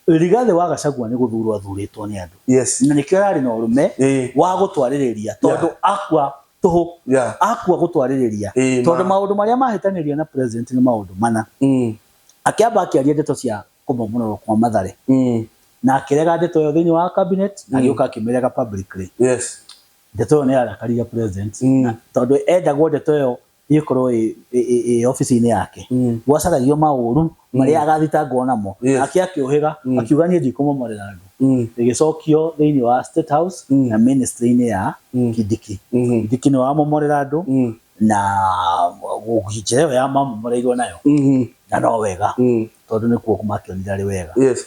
Rigathĩ wa Gacagua nĩ gũthurwo athurĩtwo nĩ andũ yes. na nĩkĩo ararĩ na ũrũme eh. wa gũtwarĩrĩria tondũ yeah. akua tũhũ yeah. akua gũtwarĩrĩria eh, tondũ maũndũ marĩa mahĩtanĩria na president nĩ maũndũ mana mm. akĩamba akĩaria ndeto cia kũmomororwo kwa mathare mm. na akĩrega ndeto ĩyo thĩinĩ wa cabinet mm. agĩũka akĩmĩrega publicly yes. ndeto ĩyo nĩ yarakarire president mm. tondũ endagwo ndeto ĩyo ĩkorwo ĩ- ĩ- ĩ- ĩ obici-inĩ yake Mm. gwacaragio maũru marĩa agathitangwo namo Yes. nake akĩũhĩga Mm. akiuga niĩ ndikũmomorera andũ Mm. ĩgĩcokio thĩinĩ wa State House Mm. na ministry-inĩ ya Mm. Kindiki Mhm. Kindiki nĩ wamomorera andũ Mm. na njĩra ĩyo ya mamomoreirwo nayo Mhm. na no wega Mm. tondũ nĩkuo makĩonire arĩ wega Yes.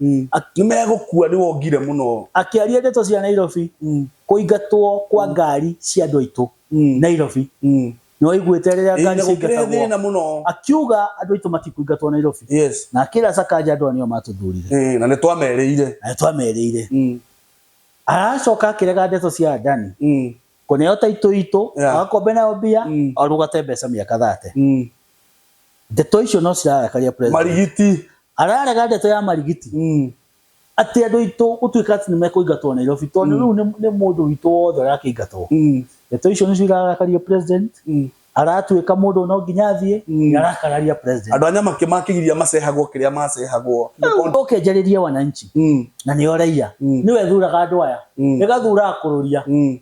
Mm. Ak- nĩ megũkua nĩ wongire mũno Akĩaria ndeto cia Nairobi, Mm. kũingatwo kwa ngari cia andũ aitũ Mm. Nairobi. Mm. Nĩ waiguĩte rĩrĩa Ĩĩ, ngari na gũkĩrehe thĩna ciaingatagwo? mũno Akiuga andũ aitũ matikũingatwo Nairobi. yes Na akĩra Sakaja andũ aya nĩo matũthurire. Ĩĩ, na nĩ twamerĩire Na nĩ twamerĩire. Mm. Aracoka akĩrega ndeto cia Adani. Mm. koneo taito itũ Yeah. agakombe nayo mbia Mm. arugate mbeca mĩaka thate Mm. ndeto icio no cirarakaria president marigiti ararega ndeto ya marigiti Mm. atĩ andũ aitũ gũtuĩka atĩ nĩ mekũingatwo Nairobi tondũ rĩu nĩ- nĩ mũndũ witũ wothe ũrakĩingatwo Mm. ndeto icio nĩcio irarakaria president Mm. aratuĩka mũndũ no nginya athiĩ Mm. na arakararia president andå anya makä makigiria macehagwo kä rä a macehagwo oke njarĩrie wananchi Mm, na nĩo raia Mm. nĩwe thuraga andũ aya Mm. ĩgathuraga kũrũria mm,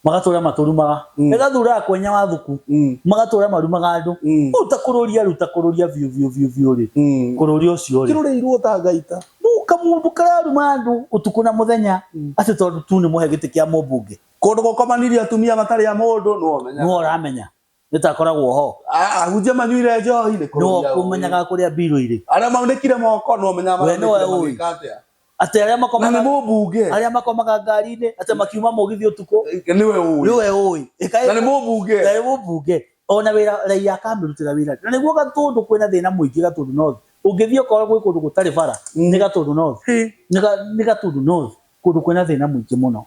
magatũra matũrumaga Mm. ĩgathuraga kwenya wathuku mm, magatũra marumaga andũ Mm. rĩu ta kũrũria rĩu ta kũrũria biũ biũ biũ biũ rĩ mm. kũrũria ũcio rĩ kä rå rä irwo ta ngaita rĩu kamũndũ kararuma andũ ũtukũ na mũthenya Mm. atĩ tondũ tu nĩ mũhe gĩtĩ kĩa mũmbunge Kũndũ gũkomanirio atumia matarĩ a mũndũ nĩwe ũmenyaga. Nĩwe ũramenya. Nĩtakoragwo ho. Ahunjia manyuire njohi nĩ kũrũria ũĩ. Nĩwe ũkũmenyaga kũrĩa mbirũ irĩ. Arĩa maunĩkire moko nĩwe ũmenyaga maraunĩkire magĩka atĩa. Atĩ arĩa makomaga. Na nĩ mũmbunge. Arĩa makomaga ngari-inĩ atĩ makiuma mũgithi ũtukũ. Nĩwe ũĩ. Nĩwe ũĩ. Na nĩ mũmbunge. Na nĩ mũmbunge. Ona wĩra raiya akamĩrutĩra wĩra rĩ. Na nĩguo Gatũndũ kwĩna thĩna mũingĩ Gatũndũ North. Ũngĩthiĩ ũkore gwĩ kũndũ gũtarĩ bara nĩ Gatũndũ North. Nĩ Gatũndũ North. Kũndũ kwĩna thĩna mũingĩ mũno.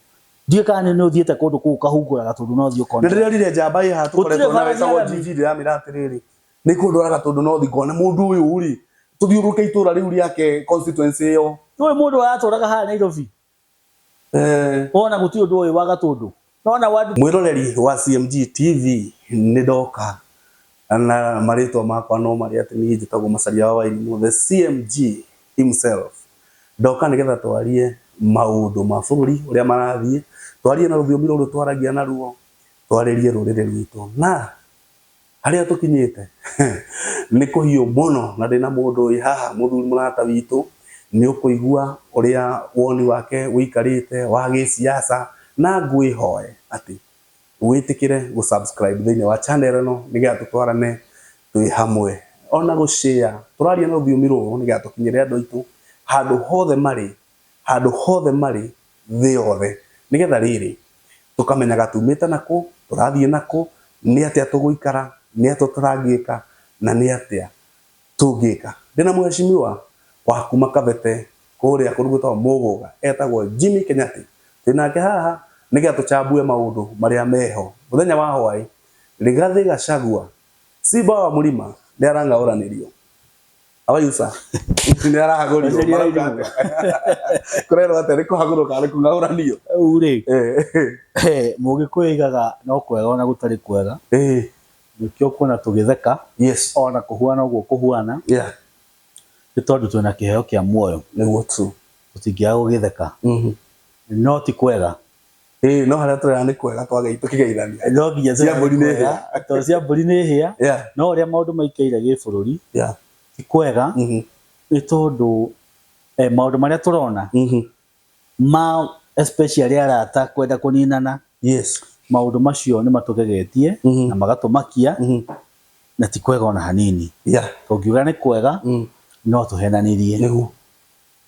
Ndiũĩ kana nĩ nĩ ũthiĩte kũndũ kũu ũkahungũra gatũndũ na ũthiĩ ũkone. Nĩ ndĩronire njamba ĩ haha tũkoretwo nayo ĩtagwo Njiji ndĩramĩra atĩrĩrĩ, nĩ ihũndũra gatũndũ na ũthiĩ ngone mũndũ ũyũ rĩ, tũthiũrũrũke itũra rĩu rĩake constituency ĩyo. Ndũĩ mũndũ ũyũ atũraga haha Nairobi? Wona gũtirĩ ũndũ ũĩ wa gatũndũ? Nona word. Mwĩroreri wa CMG TV nĩ ndoka na marĩtwa makwa no marĩ atĩ niĩ njĩtagwo Macharia wa Wairimũ the CMG himself. Ndoka nĩgetha twarie maũndũ ma bũrũri ũrĩa marathiĩ, twarie na rũthiomi rũrũ twaragia naruo, twarĩrie rũrĩrĩ rwitũ na Harĩa tũkinyĩte nĩ kũhiũ mũno na ndĩ na mũndũ wĩ haha, mũthuri mũrata witũ, nĩ ũkũigua ũrĩa woni wake ũikarĩte wa gĩsiasa, na ngwĩhoe atĩ wĩtĩkĩre gũ subscribe thĩinĩ wa channel ĩno nĩgetha tũtwarane twĩ hamwe. Ona gũ share, tũraria na rũthiomi rũrũ nĩgetha tũkinyĩre andũ aitũ handũ hothe marĩ handũ hothe marĩ, thĩ yothe, nĩ getha rĩrĩ, tũkamenyaga tumĩte na kũ, tũrathiĩ na kũ, nĩ atĩa tũgũikara, nĩ atĩa tũtangĩka, na nĩ atĩa tũngĩka. Ndĩ na mũhecimiwa wa kuma Kabete kũrĩa kũndũ gwĩtagwo Mũgũga, etagwo Jimmy Kenyattĩ. Twĩ nake haha nĩ getha tũcambue maũndũ marĩa meho. Mũthenya wa hwaĩ, Rigathĩ Gacagua, Simba wa Mũrima, nĩ arang'aũranĩrio. abaitha sa nĩ arahagũrio Aciari a marauga Irungu. atĩa? kũrerwo atĩa nĩ kũhagũrũka nĩ kũng'aũranio Rĩu rĩ Eh, mũgĩkũyũ aigaga no kwega ona gũtarĩ kwega eh, nĩkĩo kuona tũgĩtheka yes ona kũhuana ũguo kũhuana yeah nĩ tondũ twĩna kĩheo kĩa muoyo nĩguo tu tũtingĩaga gũgĩtheka Mhm. no ti kwega ĩĩ no harĩa tũrera nĩ kwega twagei tũkĩgeithania no nginya Cia mbũri nĩ hĩa. tondũ cia mbũri nĩ hĩa yeah no ũrĩa maũndũ maikaire gĩbũrũri yeah ti kwega mhm nĩ tondũ eh, maũndũ marĩa tũrona mhm ma especially arata kwenda kũninana yes maũndũ macio nĩ matũgegetie Mhm. na magatũmakia mhm na ti kwega ona hanini yeah tũngiuga nĩ kwega mhm no tũhenanirie nĩguo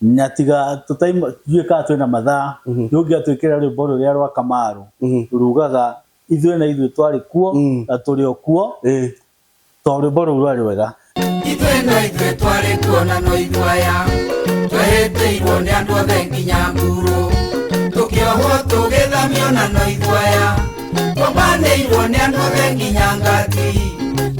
na tiga tũtuĩka twĩna mathaa mm-hmm. ndũngĩatwĩkĩra rwĩmbo rũrĩa rwa kamarũ mm-hmm. rugaga ithuĩ na ithuĩ twarĩ kuo mm. na tũrĩ o kuo eh. tondũ rwĩmbo rũu rwarĩ rwega ithuĩ na ithuĩ twarĩ kuo na no ithuaya twehĩtĩirwo nĩ andũ othe nginya nguru tũkĩohwo tũgĩthamio na no ithuaya tũbanĩirwo nĩ andũ the nginya ngati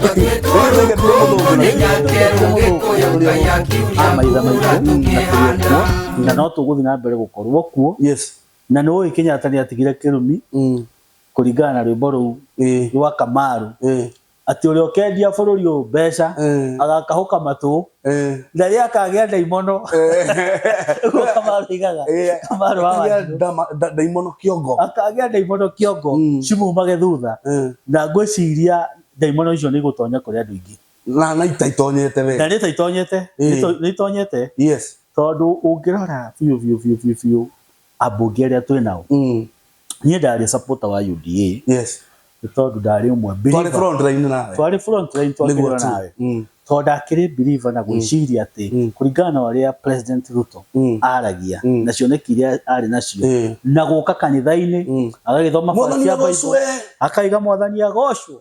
twatuĩtwo rũkũngũ nĩ nyake rũgĩkũyũ ngai akiuria amaitha kura maitũ na tũrĩ tũkĩhanda kuo na no tũgũthiĩ na mbere gũkorwo kuo yes na nĩ ũĩ kenyatta nĩ atigire kĩrumi Mm. kũringana na rwĩmbo rũu Ĩĩ. rwa kamaru Ĩĩ. Atĩ ũrĩa ũkendia bũrũri ũyũ mbeca Eh. agakahũka matũ Eh. na rĩrĩa akagĩa ndaimono ũguo kamarũ aigaga Eh, kamarũ wa akagĩa wanjirũ ndama- nda- ndaimono kĩongo akagĩa ndaimono kĩongo Mm. cimumage thutha Eh. na ngwĩciria ndaimono icio nĩ igũtonya kũrĩ andũ aingĩ na na itaitonyete we na nĩ ta itonyete Eh. nĩ to- nĩ itonyete yes tondũ ũngĩrora biũ biũ biũ biũ biũ ambunge arĩa twĩ nao Mm. niĩ ndarĩ supporter wa UDA Yes. nĩ tondũ ndarĩ ũmwe Twarĩ believer. front line nawe. twarĩ front line Nĩguo twakĩrwo tu. nawe Mm. tondũ ndakĩrĩ believer na gwĩciria atĩ Mm. kũringana na ũrĩa president Ruto Mm. aragia Mm. na cioneki iria arĩ nacio Eh. na gũka kanitha-inĩ Mm. agagĩthoma Mwathani barati ya agocwo, Bible, eh. akaiga mwathani agocwo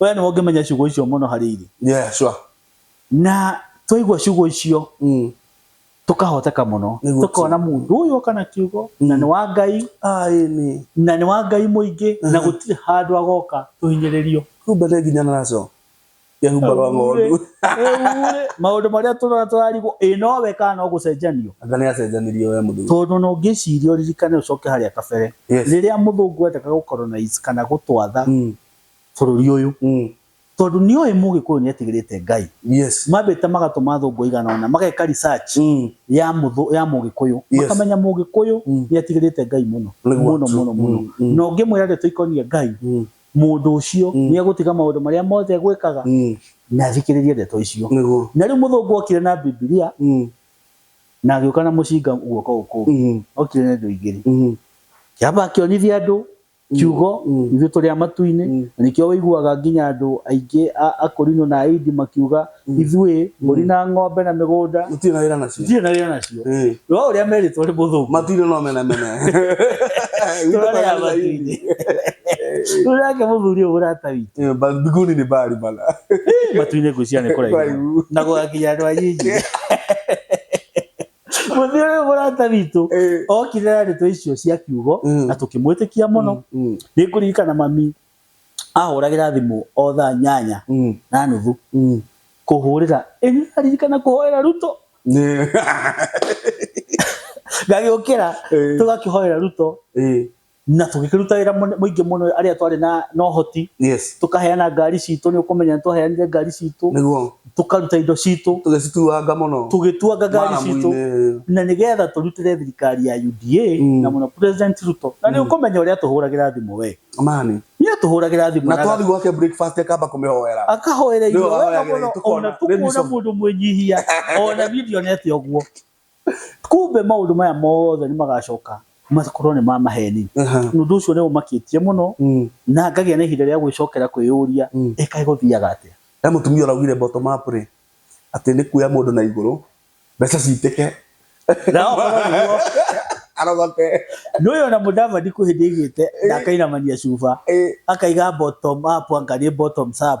we nĩ ũngĩmenya ciugo icio mũno harĩ irĩ yeah sure na twaigua ciugo icio mm. tũkahoteka mũno Nĩguo tũkona mũndũ ũyũ kana kiugo na Mm. nĩ wa ngai ah ĩni na nĩ wa ngai mũingĩ na Mhm. gũtirĩ handũ agoka tũhinyĩrĩrio kumbe nĩ nginya naco kehumba rwa ng'ondu Rĩu-rĩ, maũndũ marĩa tũrona tũrarigwo ĩ nowe kana no gũcenjanio anga nĩ acenjanirio we mũthuri tondũ no ngĩciria ũririkane ũcoke harĩa kabere Yes. rĩrĩa mũthũngũ endaga gũcolonize kana gũtwatha Mm. bũrũri ũyũ Mm. tondũ nĩoĩ mũgĩkũyũ nĩetigĩrĩte ngai Yes. mambĩte magatũma athũngũ aigana ona mageka research Mm. ya mũthũ ya mũgĩkũyũ Yes. makamenya mũgĩkũyũ Mm. nĩatigĩrĩte ngai mũno Nĩguo mũno tu. mũno mũno Mm, mm. na ũngĩmwĩra ndeto ikonie ngai Mm. mũndũ ũcio Mm. nĩegũtiga maũndũ marĩa mothe egwĩkaga Mm. na athikĩrĩrie ndeto icio Nĩguo. na rĩu mũthũngũ okire na bibilia Mm. na agĩũka na mũcinga guoko gũkũ kũngĩ okire na indo igĩrĩ kĩamba akĩonithia andũ kiugo ithuĩ tũrĩ a matu-inĩ na nĩkĩo ũiguaga nginya andũ aingĩ a Akorinto na Aindi makiuga ithuĩ mbũri na ng'ombe na mĩgũnda Gũtirĩ na wĩra nacio. itirĩ na wĩra nacio Ĩĩ. no ũrĩa merĩtwo nĩ mũthũngũ Matu-inĩ no mene mene. Gwitũ tũrarĩ a tũrarĩ matu-inĩ rĩu nake mũthuri ũyũ mũrata witũ Ĩĩ, ba- Mbinguni ni mbali bana. matu-inĩ ngwĩciria nĩ kũraihu Kũraihu. na gũgakinya andũ a nyingi mũthĩ ũyũ mũrata witũ Eh. okire na ndeto icio cia kiugo Mm. na tũkĩmwĩtĩkia mũno Mm, nĩ kũririkana mami ahũragĩra thimũ o thaa nyanya mm, na nuthu mm. kũhũrĩra ĩni aririkana kũhoera ruto Nĩ- ngagĩũkĩra Eh. tũgakĩhoera ruto Eh. na tũgĩkĩruta wĩra mũne- mũingĩ mũno arĩa twarĩ na na ũhoti yes tũkaheana ngari citũ nĩ ũkũmenya nĩ twaheanire ngari citũ nĩguo tũkaruta indo citũ tũgĩcituanga mũno tũgĩtuanga ngari citũ maramu-inĩ na nĩ getha tũrutĩre thirikari ya UDA Mm. na mũno president Ruto na nĩ ũkũmenya ũrĩa atũhũragĩra thimũ we mani nĩ atũhũragĩra thimũ na na twathi gwake breakfast akamba kũmĩhoera akahoera Nĩwe irio wega wahoyagĩra mũno irio, tukona- ona nĩ tũkuona bishop. mũndũ mwĩnyihia ona video nete ũguo Kumbe maũndũ maya mothe nĩ magacoka makorwo nĩ ma maheni. Aha. Ũndũ ũcio nĩ ũmakĩtie mũno Mm. na ngagĩa na ihinda rĩa gwĩcokera kwĩyũria Mm. ĩ kaĩ gũthiaga atĩa? He mũtumia ũraugire bottom up rĩ, atĩ nĩ kuoya mũndũ na igũrũ, mbeca citĩke. Na okorwo nĩguo, Arogote. nĩ ũyũ ona mũdavadi kwĩ hĩndĩ aigĩte na akainamania cuba Ĩ, akaiga bottom up anga nĩ bottoms up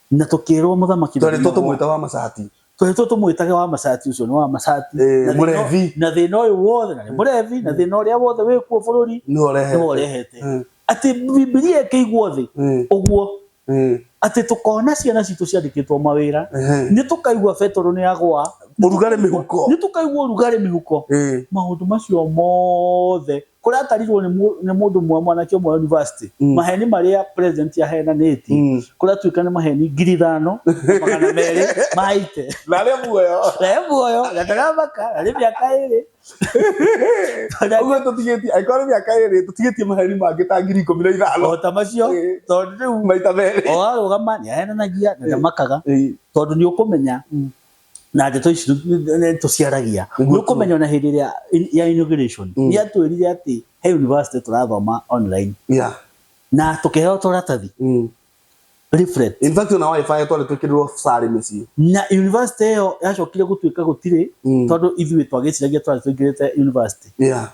Na tũkĩĩrwo mũthamaki Twarĩtwo Daudi nĩguo- tũmwĩta wa macati. tũhetwo tũmwĩtage wa macati ũcio nĩ wa macati Ĩĩ, Na thĩna- mũrevi. na thĩna ũyũ wothe na nĩ mũrevi na thĩna ũrĩa wothe wĩ kuo bũrũri Nĩwe ũrehete. nĩwe ũrehete Mm. atĩ bibilia ĩkĩiguo thĩ Mm. ũguo Mm. atĩ tũkona ciana citũ ciandĩkĩtwo mawĩra Ehe. nĩ tũkaigua betoro nĩ agwa Ũrugarĩ mĩhuko. nĩ tũkaigua ũrugarĩ mĩhuko Ĩĩ. maũndũ macio mothe kũrĩa atarirwo nĩ mũndũ mwa mwanake ũmwe university mm. maheni marĩa president ahenanĩtie mm. kũrĩa tuĩka nĩ maheni ngiri ithano magana merĩ maite na rĩ muoyo na rĩ muoyo na ndaramaka na rĩ mĩaka ĩrĩ ũguo tũtigĩtie angĩkorwo nĩ mĩaka ĩrĩ tũtigĩtie maheni mangĩ ta ngiri ikũmi na ithano o ta macio tondũ rĩu maita merĩ o arũgama nĩ ahenanagia na ndamakaga tondũ nĩ ũkũmenya mm. na ndeto ici tũciaragia nĩ Nĩguo tu. ũkũmenya ona hĩndĩ ĩrĩa in- ya inauguration Mm. nĩ atwĩrire atĩ he university tũrathoma online yeah na tũkĩheo tũratathi mm. leaflet in fact ona wifi twarĩ twĩkĩrĩrwo sarĩ mĩciĩ na university ĩyo yacokire gũtuĩka gũtirĩ Mm. tondũ ithuĩ twagĩciragia twarĩ tũingĩrĩte university yeah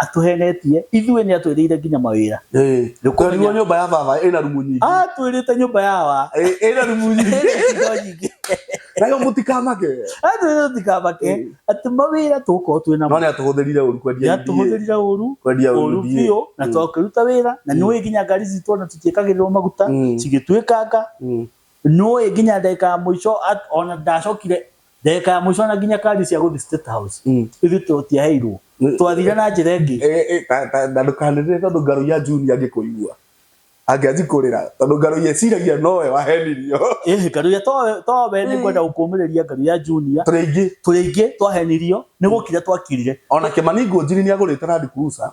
atũhenetie ithuĩ nĩ atwĩrĩire nginya mawĩra Eh, Nĩũkũmenya. twerirwo nyũmba ya baba ĩna rumu nyingĩ atwĩrĩte nyũmba ya wa Eh, ĩna rumu nyingĩ Indo nyingĩ. nayo mũtikamake atwĩrĩte tũtikamake Eh. atĩ mawĩra tũgũkorwo twĩ no namo nĩ atũhũthĩrire ũru kwendia iria yatũhũthĩrire ũru kwendia ũru ũru iria. biũ na Mm. twakĩruta wĩra na nĩ ũĩ nginya ngari citũ ona tũtiĩkagĩrĩrwo maguta Mm. cigĩtuĩkanga Mm. nĩ ũĩ nginya ndagĩka ya mũico at- ona ndacokire ndagĩka ya mũico na nginya kadi cia gũthiĩ State House Mm. ithuĩ tũtiaheirwo Mm. twathire na njĩra ĩngĩ Eh, eh, ta- ta- na ndũkanĩrĩre tondũ ngarũ ya juni angĩkũigua angĩanji kũrĩra tondũ ngarũ ya ĩciragia nowe wahenirio ĩhĩ ngaru ya to- towe nĩ ngwenda gũkũmĩrĩria ngaru ya junior tũrĩ aingĩ tũrĩ aingĩ twahenirio nĩ gũkira twakirire ona kĩmani ngũnjiri nĩ agũrĩte randi kurusa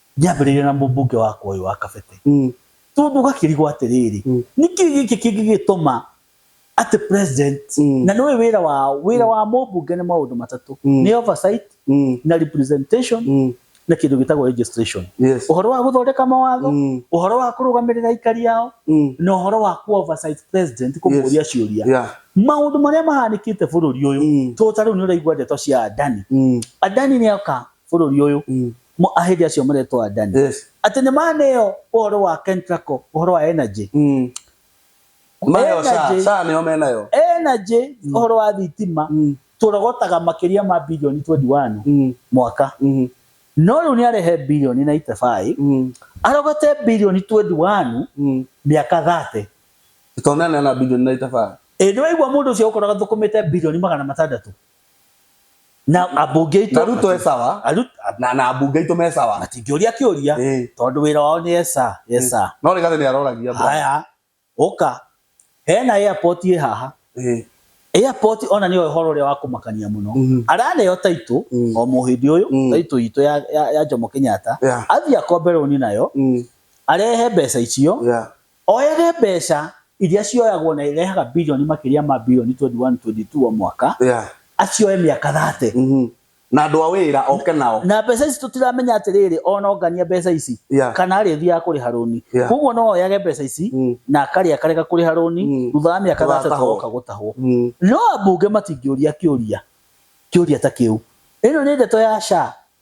Ngĩambĩrĩria na mũmbunge wakwa ũyũ wa Kabete, tondũ gakĩrigwo atĩrĩrĩ, nĩkĩ gĩkĩ kĩngĩgĩtũma atĩ president, na nĩũĩ wĩra wao, wĩra wa mũmbunge nĩ maũndũ matatũ, nĩ oversight, na representation, na kĩndũ gĩtagwo registration. Ũhoro wa gũthondeka mawatho, ũhoro wa kũrũgamĩrĩra aikari ao, na ũhoro wa kũ oversight president kũmũria ciũria. Maũndũ marĩa mahanĩkĩte bũrũri ũyũ, tondũ ta rĩu nĩũraigua ndeto cia Adani, Adani nĩoka bũrũri ũyũ, Mo, ahĩndĩ acio maretwo Adani. Yes. Atĩ nĩ maneo ũhoro wa Kentraco, ũhoro wa energy. Mm. Mayo saa, Energy. saa nĩo menayo. Energy, ũhoro wa thitima, Mm. tũrogotaga makĩria ma bilioni 21 Mm. mwaka. Mm. No rĩu nĩ arehe bilioni 95, Mm. arogote bilioni 21 Mm. mĩaka 30. Tũtonane na bilioni na itabaa. Ĩndĩ waigua mũndũ ũcio ũkoraga thũkũmĩte bilioni magana matandatũ. na ambunge na ruto e sawa Aru- na na ambunge itå me sawa atingĩũria kĩũria Ĩĩ. tondũ wĩra wao nĩ esa esa no rä gathä nä aroragia bro. haya ũka hena airport ĩ haha Ĩĩ. airport ona nĩyo ũhoro ũrĩa wa kũmakania mũno Mhm. araneo taitũ Mm. o mũhĩndĩ ũyũ Mm. taitũ itũ ya, ya, ya njomo kenyatta Yeah. athiĩ akombe rũni nayo Mm. arehe mbeca icio Yeah. Oyaga mbeca iria cioyagwo na irehaga birioni makĩria ma birioni 21, 22 o mwaka, Yeah. acioe mĩaka 30. Mhm. Na andũ a wĩra oke nao. Na mbeca ici tũtiramenya atĩrĩrĩ, ona ongania mbeca ici, Yeah. kana arĩthiaga kũrĩha rũni. Yeah. Kwoguo no oyage mbeca ici, Mm. na akarĩa akarega kũrĩha rũni, Mm. thutha wa mĩaka 30 Tũgatahwo. agoka gũtahwo. Mm. No ambunge matingĩũria kĩũria kĩũria ta kĩu. Ĩno nĩ ndeto ya SHA.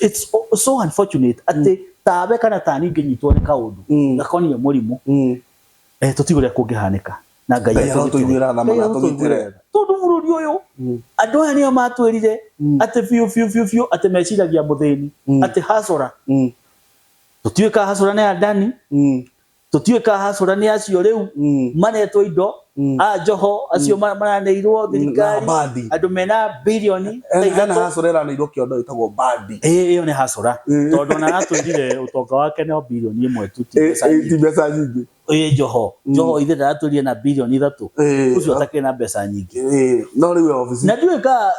it's o- so unfortunate atĩ tawe kana tani ingĩnyitwo nĩ kaũndũ Mm. gakoniĩ mũrimũ Mm. eh, tũtigĩ ũrĩa kũngĩhanĩka na ngai Ngai atũgitĩre. arotũiguĩra tha mũno, Ngai arotũiguĩra atũgitĩre. tha. tondũ bũrũri ũyũ Mm. andũ aya nĩo matwĩrire Mm. atĩ biũ biũ biũ biũ atĩ meciragia mũthĩni Mm. atĩ hacora Mm. tũtiũĩ ka hacora nĩ adani Mm. Tũtiũĩ ka Hasũra nĩ acio rĩu maretwo indo, a Njoho acio maraneirwo Na thirikari, mbandi. andũ mena birioni ta Hena ithatũ. Hasũra ĩraneirwo kĩondo ĩtagwo mbandi. Ĩ, ĩyo nĩ Hasũra. Tondũ ona aratwĩrire ũtonga wake no birioni ĩmwe tu, ti Ĩ, mbeca ĩ, ti nyingĩ. mbeca nyingĩ. Ĩ Njoho, Njoho ithe ndaratwĩrire ena birioni ithatũ? Ĩ, Ũcio atakĩrĩ na mbeca nyingĩ. ĩ, no rĩu e obici. Na ndiũĩ ka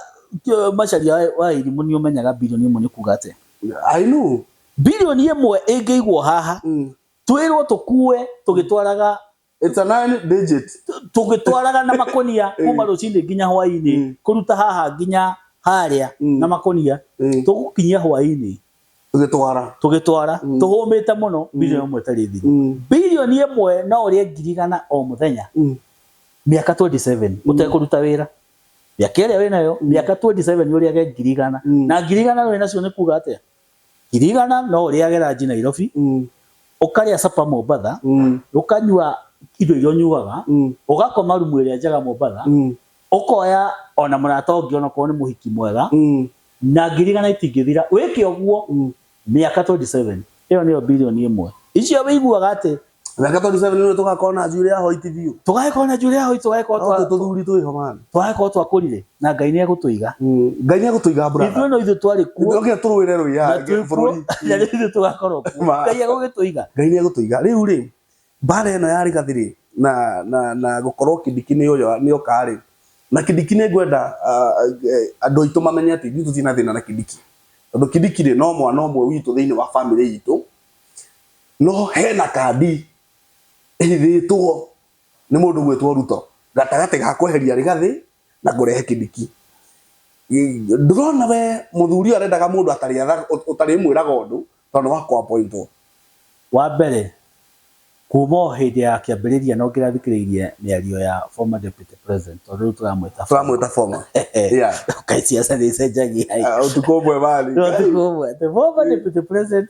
kĩ- Macharia wa- wa Irimũ nĩ ũmenyaga birioni ĩmwe nĩ kuuga atĩa? I know. Birioni ĩmwe ĩngĩigwo haha, twĩrwo tũkue tũgĩtwaraga It's a nine digit. tũgĩtwaraga na makonia kuma rũcinĩ nginya hwainĩ Mm. kũruta haha nginya harĩa Mm. na makonia Mm. tũgũkinyia hwainĩ Tũgĩtwara. tũgĩtwara Mm. tũhũmĩte mũno bilioni ĩmwe ĩtarĩ thiru Mm. bilioni ĩmwe no ũrĩe ngiri igana o mũthenya Mm. mĩaka 27 ũtekũruta wĩra mĩaka ĩrĩa wĩnayo mĩaka 27 ũrĩage ngiri igana Mm. na ngiri igana wĩnacio nĩ kuga atĩa Kirigana no ũrĩage ranji Nairobi, ũkarĩa supper Mombatha, ũkanyua indo iria ũnyuaga, ũgakoma rumu ĩrĩa njega Mombatha, ũkoya ona mũrata ũngĩ ona korwo nĩ mũhiki mwega, na ngirigana itingĩthira. Wĩke ũguo mĩaka twenty seven, ĩyo nĩyo mbirioni ĩmwe. Icio wĩiguaga atĩ Reke tondũ seven nĩ tũgakorwo na njuĩrĩ ya hoiti biũ. Tũgakorwo na njuĩrĩ ya hoiti tũgakorwo twa. Tũ tũthuri twĩ ho man. Tũgakorwo twakũrire na Ngai nĩ egũtũiga. Mm, Ngai nĩ egũtũiga brother. Ithuĩ no ithuĩ twarĩ kuo. Tũkire tũrũĩre rũiya bũrũri. Na rĩu ithuĩ tũgakorwo kuo. Ngai egũgĩtũiga. Ngai nĩ egũtũiga. Rĩu rĩ, mbara ĩno ya rĩgathĩ rĩ, na na na gũkorwo kĩndiki nĩ ũyo nĩ oka rĩ, na kĩndiki nĩ ngwenda andũ aitũ mamenye atĩ ithuĩ tũtirĩ na thĩna na kĩndiki. Tondũ kĩndiki rĩ, no mwana ũmwe witũ thĩinĩ wa family itũ. no hena kandi ĩhithĩtwo nĩ mũndũ ũgwĩtwo Ruto gatagatĩ ga kweheria Rigathĩ na kũrehe Kindiki. Ndũrona we mũthuri ũyũ arendaga mũndũ ũtarĩmwĩraga ũndũ tondũ wa kũ appoint wo. Wa mbere, kuma o hĩndĩ ya kĩambĩrĩria no nginya thikĩrĩirie mĩario ya former deputy president tondũ rĩu tũramwĩta Tũramwĩta former. Yeah. Kaĩ ciaca nĩ icenjagia ĩ. Ũtukũ ũmwe marĩ. Ũtukũ ũmwe atĩ former deputy president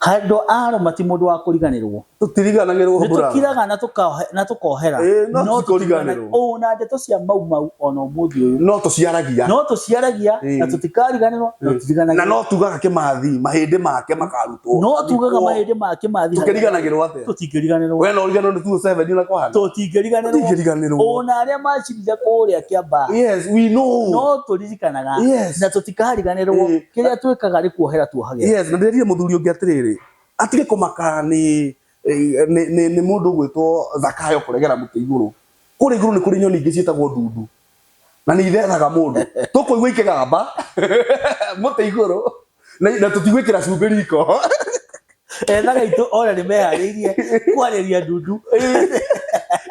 Handũ a Aroma ti mũndũ wa kũriganĩrwo. Tũtiriganagĩrwo Nĩ mbura. tũkiraga na tũkaohe- na tũkohera. Ĩĩ, no No ti tũtiriganagĩrwo. kũriganĩrwo. Ũũ na ndeto cia mau mau o na ũmũthĩ ũyũ. No tũciaragia. No tũciaragia Ĩĩ. na tũtikariganĩrwo na Na tũtiriganagĩrwo. no tugaga kĩmathi, mahĩndĩ make makarutwo. No tugaga Athikwo. mahĩndĩ ma kĩmathi. Tũkĩriganagĩrwo atĩa? Tũtingĩriganĩrwo. We no ũriganĩrwo nĩ 207 na kwahana. Tũtingĩriganĩrwo. Tũtingĩriganĩrwo. O na arĩa macirire kũrĩa Kĩambaa. Yes, we know. No tũri tũririkanaga Yes. na tũtikariganĩrwo Eh. kĩrĩa twĩkaga nĩ kuohera tuohagĩra yes na ndirire muthuri ungi atiriri atige kumaka ni eh, ni ni- ni mundu gwitwo thakayo kuregera muti iguru kuri iguru ni kuri nyoni ingi cietagwo ndundu na ni ithethaga mundu tukuigua ikigamba muti iguru na na tutigwikira cumbĩ riko etha gaitå ona nä meharä irie kwarä ria ndundu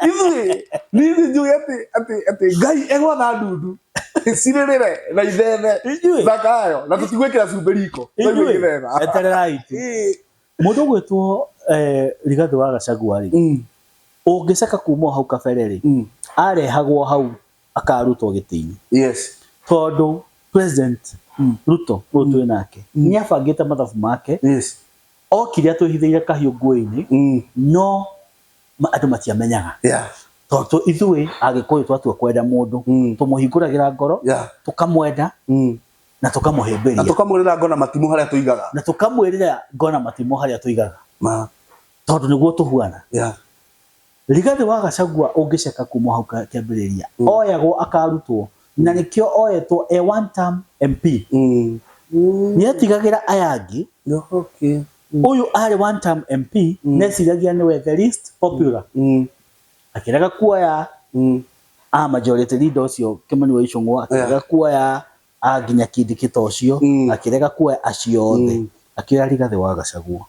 ithuĩ nithuĩ njũĩ atĩ atĩ atĩ ngai egwatha ndundu cirĩrĩre na ithethe Ithuĩ? thaka yayo na tũtigwĩkĩra cumbĩ riko Twaigua Ithuĩ? ithetha. Etererai tu. Ĩĩ. må ndå gwä two rigathä wa gacagua rä Mm, å ngä caka kuma o hau kabere rä mm. arehagwo hau akarutwo gĩtĩ-inĩ yes tondũ president Mm. ruto ũyũ twĩ nake Mm. nĩ abangĩte mathabu make yes okire atwĩhithĩire kahiũ nguo-inĩ mm. no ma- andũ matiamenyaga yeah tondũ ithuĩ agĩkũyũ twatua kwenda mũndũ Mm. tũmũhingũragĩra ngoro yeah tũkamwenda mm. na na tũkamũhĩmbĩria tũkamwĩrĩra ngona matimũ harĩa tũigaga na tũkamwĩrĩra ngona matimũ harĩa tũigaga ma tondũ nĩguo tũhuana yeah Rigathi wa Gachagua ũngĩceka kuma hau kĩambĩrĩria oyagwo akarutwo na nĩkĩo oyetwo e one term MP Mm. Mm. nĩetigagĩra aya angĩ No, okay. ũyũ arĩ one term MP neciragia nĩwe the least popular Mm. akĩrega kuoya Mm. a majority leader ũcio Kimani wa Icũng'wa akĩrega kuoya a nginya kindikita ũcio Mm. akĩrega kuoya acio othe Mm. akĩoya Rigathĩ wa Gacagua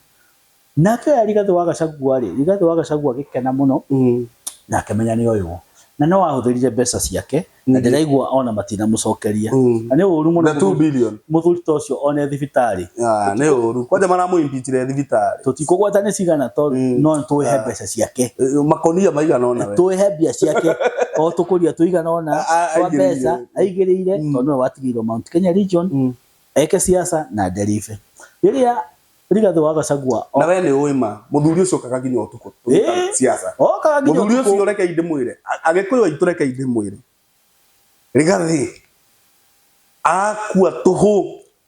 na akĩoya Rigathĩ wa Gacagua rĩ Rigathĩ wa Gacagua agĩkena mũno Mm. na akĩmenya nĩ oywo na no ahũthĩrire mbeca ciake na Mm. ndĩraigua ona matinamũcokeria Mm. na nĩ ũru mũno The 2 mũthuri- billion. mũthuri ta ũcio one thibitarĩ Ah, nĩ ũru kwanja maramũimbitire thibitarĩ tũtikũgweta nĩ cigana to Mm. no tũĩhe Ah. mbeca ciake Eh, makonia maigana ona we tũĩhe mbia ciake o tũkũria tũigana ona A- a- twa aingĩrĩire. mbeca aigĩrĩire mm. tondũ nĩwe watigĩirwo Mount Kenya region mm. eke siasa na nderibe rĩrĩa rigathĩ wa gacagua na we nĩ ũĩ ma mũthuri ũcio okaga nginya ũtukũ siasa okaga nginya mũthuri ũcio reke inde mwĩre agĩkũyũ aitũ reke inde mwĩre rigathĩ akua tũhũ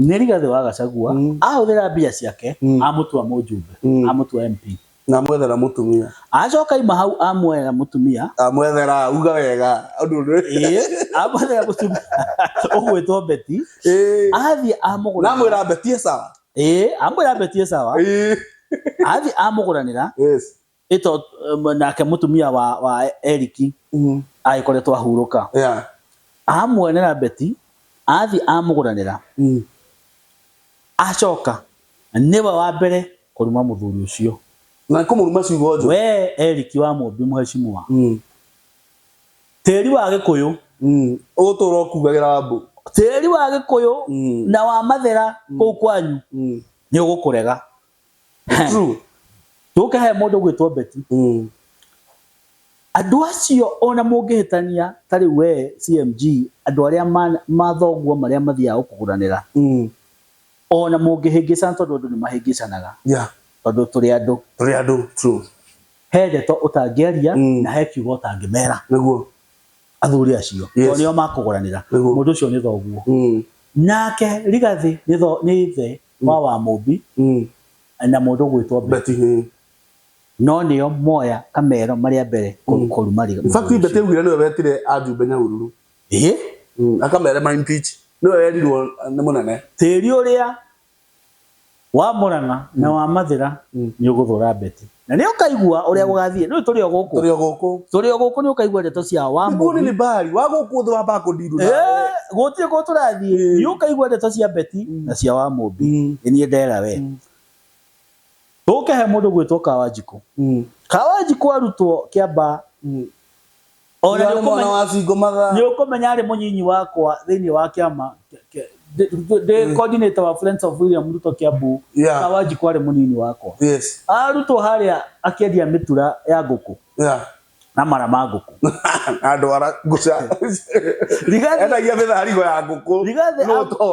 Nĩ Rigathĩ wa Gachagua ahũthĩra mbia ciake amũtua mũjumbe, amũtua MP. Na amwethera mũtumia. Acoka aima hau amwethera mũtumia. Amwethera, uga wega. Ĩĩ, amwethera mũtumia ũgwĩtwo Betty. Athiĩ amũgũranĩra. Na amwĩra Betty e sawa. Ĩĩ, amwĩra Betty e sawa. Athiĩ amũgũranĩra. ĩto um, nake mũtumia wa, wa eriki mm. agĩkoretwo ahurũka yeah. amuonera beti athiĩ amũgũranĩra mm. acoka nĩwe wa mbere kũruma mũthuri ũcio na kũmũruma ciugo njũru we eriki wa mũmbi mũhecimwa mm. tĩri wa gĩkũyũ mm. ũgũtũra ũkugagĩra wambũ tĩri wa gĩkũyũ mm. na wa mathera mm. kũu kwanyu mm. nĩ ũgũkũrega True. tũke he mũndũ gwĩtwo beti Mm. andũ acio ona mũngĩhĩtania ta rĩu we cmg andũ arĩa ma- mathoguo marĩa mathiaga gũkũgũranĩra Mm. ona mũngĩhĩngĩcana tondũ andũ nĩ mahĩngĩcanaga Yeah. tondũ tũrĩ andũ Tũrĩ andũ. True. he ndeto ũtangĩaria Mm. na he kiugo ũtangĩmera Nĩguo. athuri acio Yes. tondũ nĩo makũgũranĩra Nĩguo. mũndũ ũcio nĩ thoguo Mm. nake rigathĩ nĩ tho- nĩ ithe kwa wa mũmbi Mm. na mũndũ ũgwĩtwo Beti. Beti hĩ. No nĩo moya kamero marĩa mbere kũ- kũruma riga. In fact Beti augire nĩwe wetire ajumbe Nyahururu. Ĩĩ, Mm. Akamere ma impeach. Nĩwe werirwo nĩ mũnene. tĩri ũrĩa wa Mũrang'a na wa Mathĩra nĩ ũgũthũra Beti. Na nĩ ũkaigua ũrĩa gũgathiĩ. Rĩu tũrĩ o gũkũ. Tũrĩ o gũkũ. Tũrĩ o gũkũ nĩ ũkaigua ndeto cia Nĩguo Wamũri. nĩ Baali, wa gũkũ thĩ wambaga kũndiru nawe. Eh, Gũtirĩ kũndũ tũrathiĩ. Ĩĩ. Nĩ ũkaigua ndeto cia Beti Mm. na cia Wamũmbi. Mm. Nĩ niĩ ndera we. Mm. Tũke he mũndũ ũgwĩtwo Kawanjikũ. Mm. Kawanjikũ arutwo Kĩambaa. Mm. O na Nĩ warĩ mwana nĩũkũmenya- wa bingo mathaa. nĩ ũkũmenya arĩ mũnyinyi wakwa thĩinĩ wa kĩama kĩa- kĩa- ndĩ- ndĩ- ndĩ coordinator wa Friends of William Ruto Kiambu Yeah. na Wanjikũ arĩ mũnyinyi wakwa Yes. arutwo harĩa akĩendia mĩtura ya ngũkũ Yeah. na mara ma ngũkũ andå ara ngå ca Rigathi- endagia mä tharigo ya ngå kå rigathĩ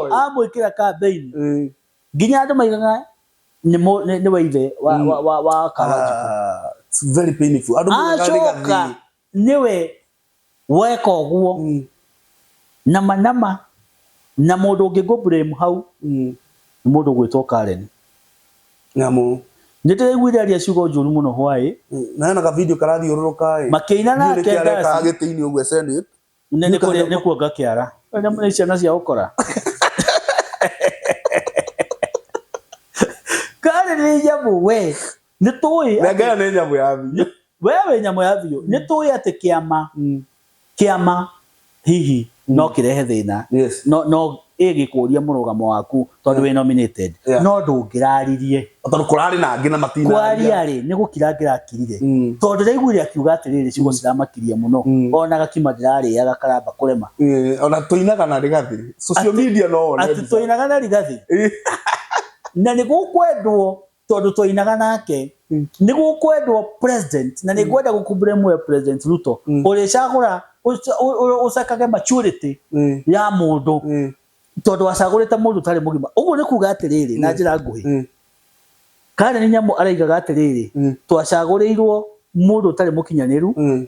amwĩkĩra kambeini nginya andå maigaga nä må- nĩ- nĩ wa ithe wa- Mm. wa- wa- wa kawanjikå Ah, it's very painful. Andũ moigaga nĩ acoka gathii. nä we weka å guo Mm, na manama na må ndå å ngä ngå blame hau mm. nä må ndå å gwä two karen Nyamũ. nä ndä raiguire aria ciugo njå ru må no hwaä Mm, na hena ka video karathiũrũrũka ĩ. makä ina Ndiũĩ nake nĩkĩ areka ndasi agĩtĩ-inĩ ũguo Senate. Nĩ nĩ kũrĩa nĩ kuonga kĩara. Nĩ nyamũ nĩ ciana cia ũkora. Karĩ nĩ nyamũ we. Nĩ tũĩ. Nenge ĩyo nĩ nyamũ ya biũ. We wĩ nyamũ ya biũ. Nĩ tũĩ atĩ kĩama kĩama hihi no kĩrehe thĩna. Yes. No no Ĩ gĩkũria mũrũgamo waku tondũ wĩ nominated Yeah. no ndũngĩraririe Tondũ kũrarĩ na angĩ na matinaria. kwaria rĩ nĩ gũkira ngĩrakirire Mm. tondũ ndĩraiguire akiuga atĩrĩrĩ ciugo ciramakirie mũno Mm. ona gakima ndĩrarĩaga karamba kũrema Eh, Ona tũinaga na rĩgathĩ. Social Atĩ- media no one atĩ mbica. twainaga na rigathĩ Ĩ. na nĩ gũkwendwo tondu twainaga nake mm. niguo kwendwo president na nigwenda mm. gukumbure mwe president ruto mm. uricagura ucakage maturity mm. ya mundu mm. tondu acagurite mundu tari mugima uguo ni kuga atiriri mm. na njira nguhi mm. kana ni nyamu araigaga atiriri mm. twacagurirwo mundu tari mukinyaniru mm.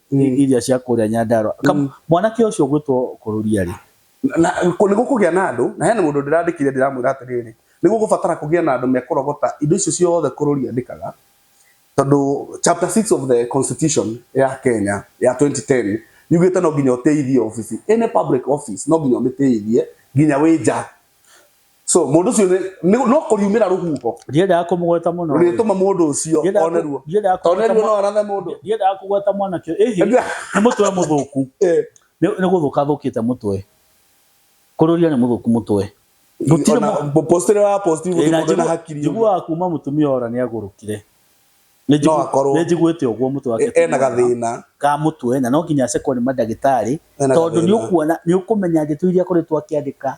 Mm. iria cia kũrĩa Nyandarua Ka- Mm. mwanake ũcio ũgwĩtwo kũrũria rĩ na kũ- nĩ gũkũgĩa na andũ na hena mũndũ ndĩrandĩkire ndĩramwĩra atĩrĩrĩ nĩ gũgũbatara kũgĩa na andũ mekũrogota indo icio ciothe kũrũri andĩkaga tondũ chapter 6 of the constitution ya Kenya ya 2010 yugĩte no nginya ũteithie office any public office no nginya ũmĩteithie nginya wĩ nja so mundu ucio ni no kuriumira ruhuho ndiendaga kumugweta muno urituma mundu ucio oneruo oneruo no arathe mundu ndiendaga kugweta mwana kio ehi ni mutwe muthuku eh. ni guthuka thukite mutwe kururia ni muthuku mutwe gutire mo postire wa posti eh, mundu na hakiri jigua kuma mutumia ora ni agurukire ni njiguite uguo mutwe wake e, ena gathina ka mutwe na no nginya acekwo ni madagitari tondu ni ukuona ni ukumenya ndeto iria koretwo akiandika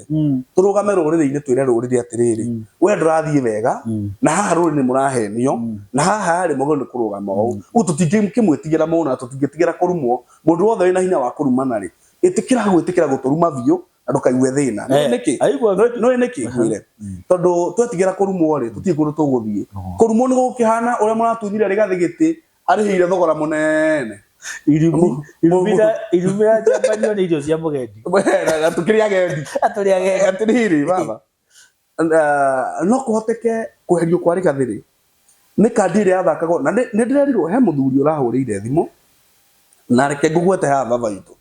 mm. tũrũgame rũrĩrĩ-inĩ twĩre rũrĩrĩ atĩrĩrĩ mm. we ndũrathiĩ wega mm. na haha rũrĩrĩ mũrahenio mm. na haha rĩ mũgĩrĩirwo nĩ kũrũgama ũũ mm. ũguo tũtingĩkĩmwĩtigĩra mũndũ na tũtingĩtigĩra kũrumwo mũndũ wothe wĩna hinya wa kũrumana rĩ ĩtĩkĩra gwĩtĩkĩra gũtũruma biũ na ndũkaigue thĩna nĩ eh, nĩkĩ nĩ nĩkĩ ngwĩre mm. tondũ twetigĩra kũrumwo rĩ tũtirĩ kũndũ tũgũthiĩ kũrumwo nĩ gũkĩhana ũrĩa mũratunyire rĩgathĩ gĩtĩ arĩhĩire thogora mũnene Mu- irumira irumira njambanio nĩ irio cia mũgendi Weheraga, tũkĩrĩ agendi atũrĩ agendi atĩrĩrĩ baba Ah, no kũhoteke kweherio kwa rĩgathĩrĩ nĩ kandi ĩrĩa yathakagwo na nĩ nĩ ndĩrerirwo he mũthuri ũrahũrĩire thimũ na reke ngũgwete haha baba witũ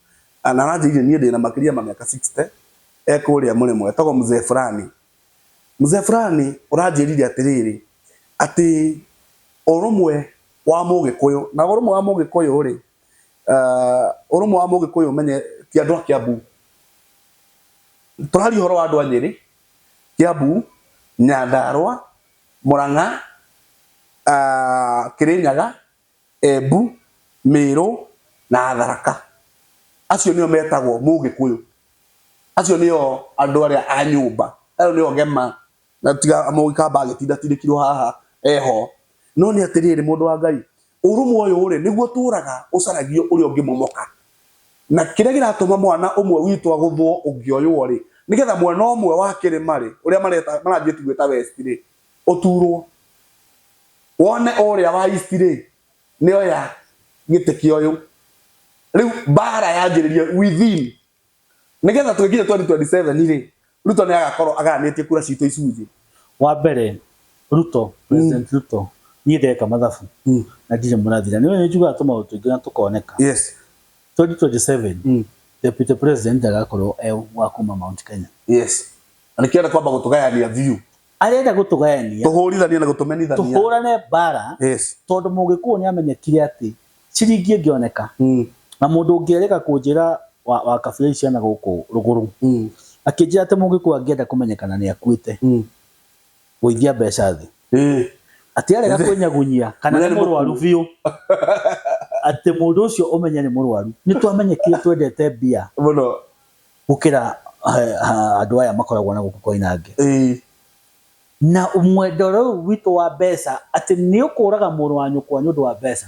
Ah, na aranjĩire niĩ ndĩna makĩria ma mĩaka 60 ekũrĩa mũrĩmo etagwo mzee fulani Mzee fulani ũranjĩrire atĩrĩrĩ, atĩ ũrũmwe wa Mũgĩkũyũ, na ũrũmwe wa Mũgĩkũyũ-rĩ, ũrũmwe wa Mũgĩkũyũ ũmenye ti andũ a Kĩambu. Tũraria ũhoro wa andũ a Nyĩrĩ, Kĩambu, Nyandarũa, Mũrang'a, Kĩrĩnyaga, Embu, Mĩrũ na Tharaka. Acio nĩo metagwo Mũgĩkũyũ. Acio nĩo andũ arĩa a nyũmba. Ĩyo nĩyo gema na tiga Mũgĩkamba agĩtindatindĩkirwo haha e ho. No nĩ atĩrĩrĩ, mũndũ wa Ngai, ũrũmwe ũyũ-rĩ, nĩguo ũtũraga ũcaragio ũrĩa ũngĩ momoka. Na kĩrĩa kĩratũma mwana ũmwe witũ agũthwo ũngĩ oywo-rĩ, nĩgetha mwena ũmwe wa kĩrĩma-rĩ, ũrĩa maranjĩti gwĩta West-rĩ, ũtuurwo, wone ũũrĩa wa East-rĩ, nĩoya gĩtĩ kĩa ũyũ. Rĩu mbaara yanjĩrĩrie within, nĩgetha tũgĩkinya 2027-rĩ, Ruto nĩagakorwo agayanĩtie kura ciitũ icunjĩ. Wa mbere, Ruto, President Ruto, niĩ ndeka mathabu, na ndirĩ mũrathira. Nĩũĩ nĩnjugaga tũmaũndũ tũingĩ na tũkoneka. 2027, Deputy President ndagakorwo e wa kuuma Mount Kenya. Na nĩkĩo arenda kwamba gũtũgayania biũ. arenda gũtũgayania tũhũrithanie na gũtũmenithania tũhũrane mbara yes tondũ mũgĩkũũ nĩ amenyekire atĩ ciringi ĩngĩoneka mm. na mũndũ ũngĩerĩka kũnjĩra wa, wa kabira ici ciana gũkũ rũgũrũ Mm. akĩnjĩra atĩ mũgĩkũũ angĩenda kũmenyekana nĩ akuĩte Mm. gũithia mbeca thĩ Eh. atĩ arega kwĩnyagunyia kana Mũrĩa nĩ nĩ mũrwaru mũkuũ. biũ atĩ mũndũ ũcio ũmenye nĩ mũrwaru nĩ twamenyekire twendete mbia mũno gũkĩra andũ aya makoragwo na gũkũ Koinange. Ĩĩ. Na mwendwa rĩu witũ wa mbeca atĩ nĩ ũkũraga mũrũ wa nyũkwa nĩ ũndũ wa mbeca.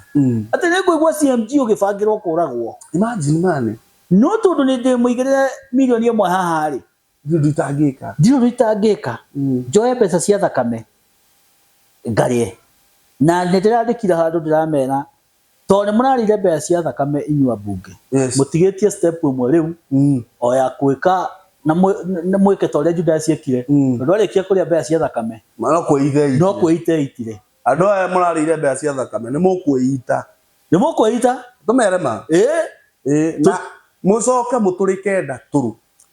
Atĩ nĩ ngũigua CMG ũgĩbangĩrwo kũragwo. Imagine man. No tondũ nĩ ndĩmũigĩrĩre mirioni ĩmwe haha rĩ. Ndirĩ ũndũ itangĩka. Ndirĩ ũndũ itangĩka. Njoe mbeca cia thakame ngarĩe. Na nĩ ndĩrandĩkire handũ ndĩramera Tondũ nĩmũrarĩire mbeca cia thakame inyuĩ ambunge, Yes. mũtigĩtie step ĩmwe rĩu Mm. o ya kwĩka na mwĩ- na mwĩke ta ũrĩa Judasi ekire, Mm. tondũ arĩkia kũrĩa mbeca cia thakame Mana kwĩithe no kwĩita eitire. Andũ aya mũrarĩire mbeca cia thakame nĩ mũkwĩita. Nĩ mũkwĩita? Tũmere ma. Ĩĩ. Ĩĩ. Na mũcoke mũtũrĩke ndatũrũ.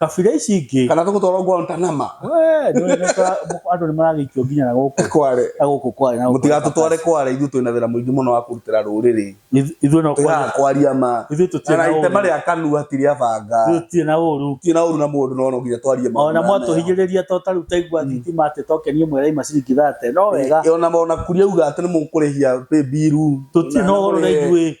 kabira ici ingĩ kana tũgũtwarwo Guantanama we nĩ ũrĩmeka andũ nĩ maragĩikio nginya na gũkũ kware na gũkũ kware na gũkũ mũtigatũtware kware ithuĩ twĩna wĩra mũingĩ mũno wa kũrutĩra rũrĩrĩ Ithu- ithuĩ no tũgaga kwaria kwaria ma ithuĩ tũtirĩ na na itema ũũru rĩa kanua ti rĩa banga ithuĩ tũtirĩ na ũũru ti na ũru na mũndũ no no nginya twarie maũndũ ona maya mega. mwatũhinyĩrĩria to tarĩu taigua thitima atĩ tokenie mweraima ciringi thate no wega Ĩ, ona ona kuria uga atĩ nĩ mũkũrĩhia pay bill tũtirĩ na ũhoro na ithuĩ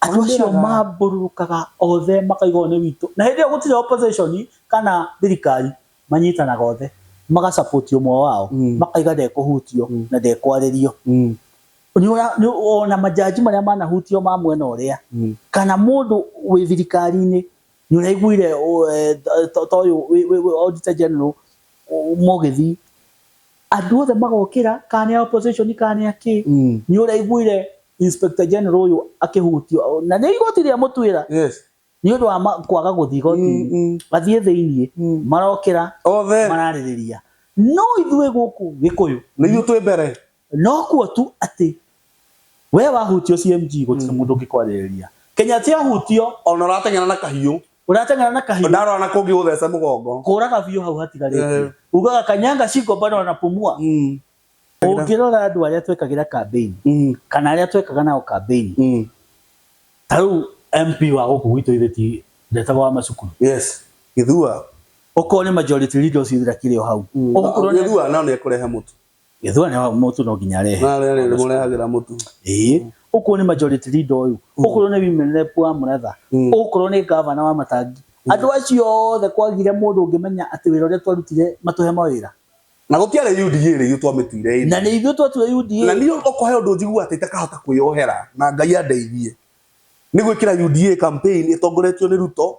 Andũ acio Atũmĩraga- mambũrũrũkaga othe makauga ũyũ nĩ witũ. Na hĩndĩ ĩyo gũtirĩ opposition kana thirikari, manyitanaga othe maga support ũmwe wao, Mm. makauga ndekũhutio Mm. na ndekwarĩrio. Mm. Nĩũra- nĩ- Ona majaji marĩa manahutio ma mwena ũrĩa, Mm. kana mũndũ wĩ thirikari-inĩ, nĩũraiguire ũ- eh, to- to- toyũ wĩ- wĩ- wĩ Auditor General, ũ- Mũgĩthi, Andũ othe magokĩra kana nĩ a opposition kana nĩ a kĩ. Nĩ ũraiguire Inspector General ũyũ akĩhutio na nĩ igoti rĩa mũtuĩra nĩ ũndũ wa kwaga gũthiĩ igoti-inĩ. Athiĩ thĩinĩ marokĩra mararĩrĩria. No ithuĩ gũkũ Gĩkũyũ nĩ ithuĩ twĩ mbere. No kuo tu atĩ we wahutio CMG gũtirĩ mũndũ ũngĩkwarĩrĩria. Kenya atĩ ahutio. Ona ũrateng'era na kahiũ. urateng'era na kahiũ ndarora na kũngĩ gũtheca mũgongo kũraga biũ hau hatigarĩte Eh. ugaga kanyanga shingo bado wanapumua Mm, ũngĩrora andũ arĩa twekagira campaign mm, kana arĩa twekaga nao campaign mm. ta rĩu MP wa gũkũ gwitũ ithe ti ndetagwo wa macukuru yes gĩthua ũkore majority leaders ithira kĩrĩ o hau Ũgũkorwo nĩ- gĩthua nao nĩ ekũrehe mũtu Gĩthua nĩ wa- mũtu no nginya arehe. Na rĩrĩ nĩ mũrehagĩra mũtu. Ĩĩ, ũkorwo nĩ majority leader ũyũ, ũkorwo nĩ women rep wa Mũratha, Mm. ũkorwo nĩ ngavana wa Matangi, andũ acio othe kwagire mũndũ ũngĩmenya atĩ wĩra ũrĩa twarutire matũhe mawĩra. Na gũtiarĩ UDA rĩu twamĩtuire ĩrĩ. Na nĩ ithuĩ twatue Na UDA. niĩ ũkũhe ũndũ njiguaga atĩ itakahota kwĩyohera na Ngai andeithie. Nĩ gwĩkĩra UDA campaign ĩtongoretio nĩ Ruto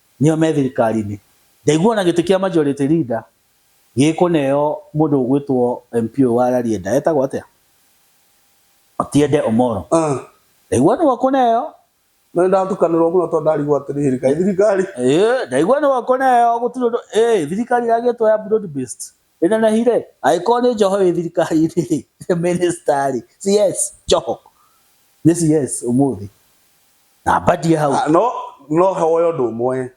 nĩo me thirikari-inĩ. Ndaigua ona gĩtĩ kĩa majority leader gĩkũneo mũndũ ũgwĩtwo MP ũyũ wa Rarieda, etagwo atĩa? Otiende Omollo. Ndaigua nĩwe ũkũneo. Na nĩndatukanĩrwo mũno tondũ ndarigwo atĩrĩrĩ, kaĩ thirikari. Ĩĩ, ndaigua nĩwe ũkũneo gũtirĩ ũndũ, ĩĩ thirikari ĩragĩtwo ya broad based. Ĩnenehire? Angĩkorwo nĩ njoho ĩ thirikari-inĩ rĩ, mĩnĩsta rĩ, CS njoho. Nĩ CS ũmũthĩ. Na ambadie hau. Ah, no no hoya ũndũ ũmwe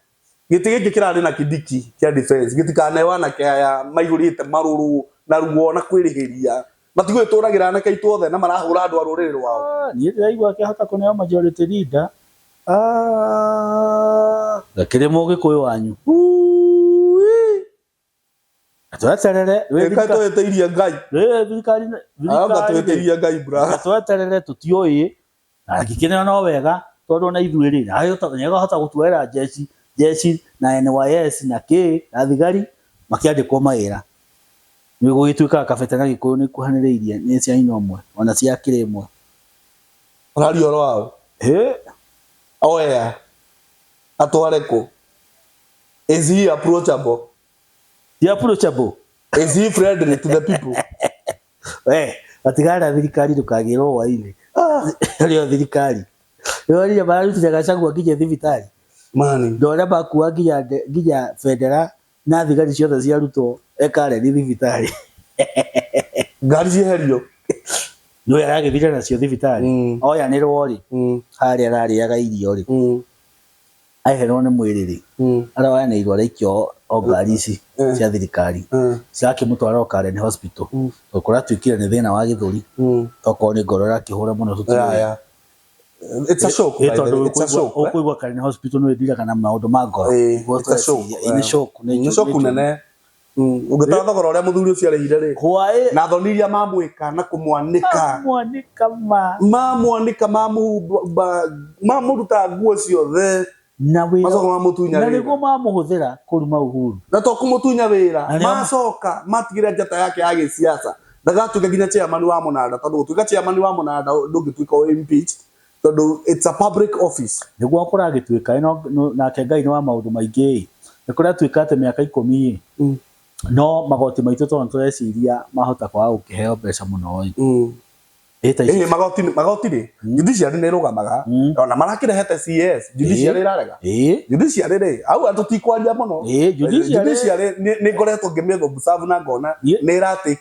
gĩtĩ gĩkĩ kĩrarĩ na kĩdiki kĩa defense gĩtikaneo anake aya maihũrĩte marũrũ na ruo na kwĩrĩhĩria matigũĩ tũragĩra anake aitũ othe na marahũra andũ a rũrĩrĩ rwao Ah, niĩ ndĩraigua akĩhota kũneo majority leader. Ah, gakĩrĩ mũgĩkũyũ wanyu. Ui. tweterere wĩ reka thirika- twetereire ngai wĩ thirikari anga thirikari twetereire ngai brother tweterere tũtiũĩ na angĩkĩrĩra no wega tondũ ona ithuĩ rĩ nĩegahota gũtuoera njeci njeci na NYS na kĩ na thigari makĩandĩkwo mawĩra nĩgũgĩtuĩkaga kabete na gĩkũyũ nĩikuhanĩrĩirie nĩ cia nyina ũmwe ona cia akĩrĩ ĩmwe ũraria ũhoro wa ũ hĩ oya atware kũ Is he approachable? He approachable. Is he friendly to the people? Eh, atigara thirikari ndukagirwo hwainĩ rĩo ah, thirikari rĩorire mararutire gacagua nginya thibitarĩ mani ndore makua nginya nginya bendera na thigari ciothe ciarutwo ekareni thibitarĩ ngari cieherio nä aragäthire nacio thibitarä mm. oyanä rwo rä mm. harä ararä aga irio rä mm. aheherwo nĩ mwĩrĩ-rĩ, arĩa oyanĩirwo araikio o ngari ici cia thirikari, cirakĩmũtwara o Karen Hospital, tondũ kũratuĩkire nĩ thĩna wa gĩthũri, tokorwo nĩ ngoro ĩrakĩhũra mũno tũtiũĩ. Ĩ tondũ ũkũigua Karen Hospital nĩwĩthiraga na maũndũ ma ngoro. Nĩ shock nene. Mm, ũngĩtara thogora ũrĩa mũthuri ũcio arĩhire rĩ hwaĩ na thoni iria mamwĩka na kũmwanĩka mamwanĩka ma mamwanĩka mamũhumba mamũruta nguo ciothe na wĩra macoka mamũtunya na wĩra nĩguo mamũhũthĩra kũruma uhuru na to kũmũtunya wĩra Na nĩo- macoka matigĩra njata yake ya gĩsiasa ndagatuĩka nginya chairman wa mũnanda tondũ gũtuĩka chairman wa mũnanda ndũngĩtuĩka o impeached tondũ it's a public office. Nĩguo kũragĩtuĩka ĩno, nake Ngai nĩ wa maũndũ maingĩ-ĩ, nĩ kũratuĩka atĩ mĩaka ikũmi-ĩ, no magoti maitũ tondũ tũreciria mahota kwaga gũkĩheo mbeca mũno-ĩ, ĩ ta ici. Ĩhĩ magoti, magoti rĩ, judiciary nĩ ĩrũgamaga, ona marakĩrehete CS, judiciary ĩrarega? Judiciary rĩ, hau tũtikwaria mũno, judiciary nĩ ngoretwo ngĩmĩ observe na ngona nĩ ĩra take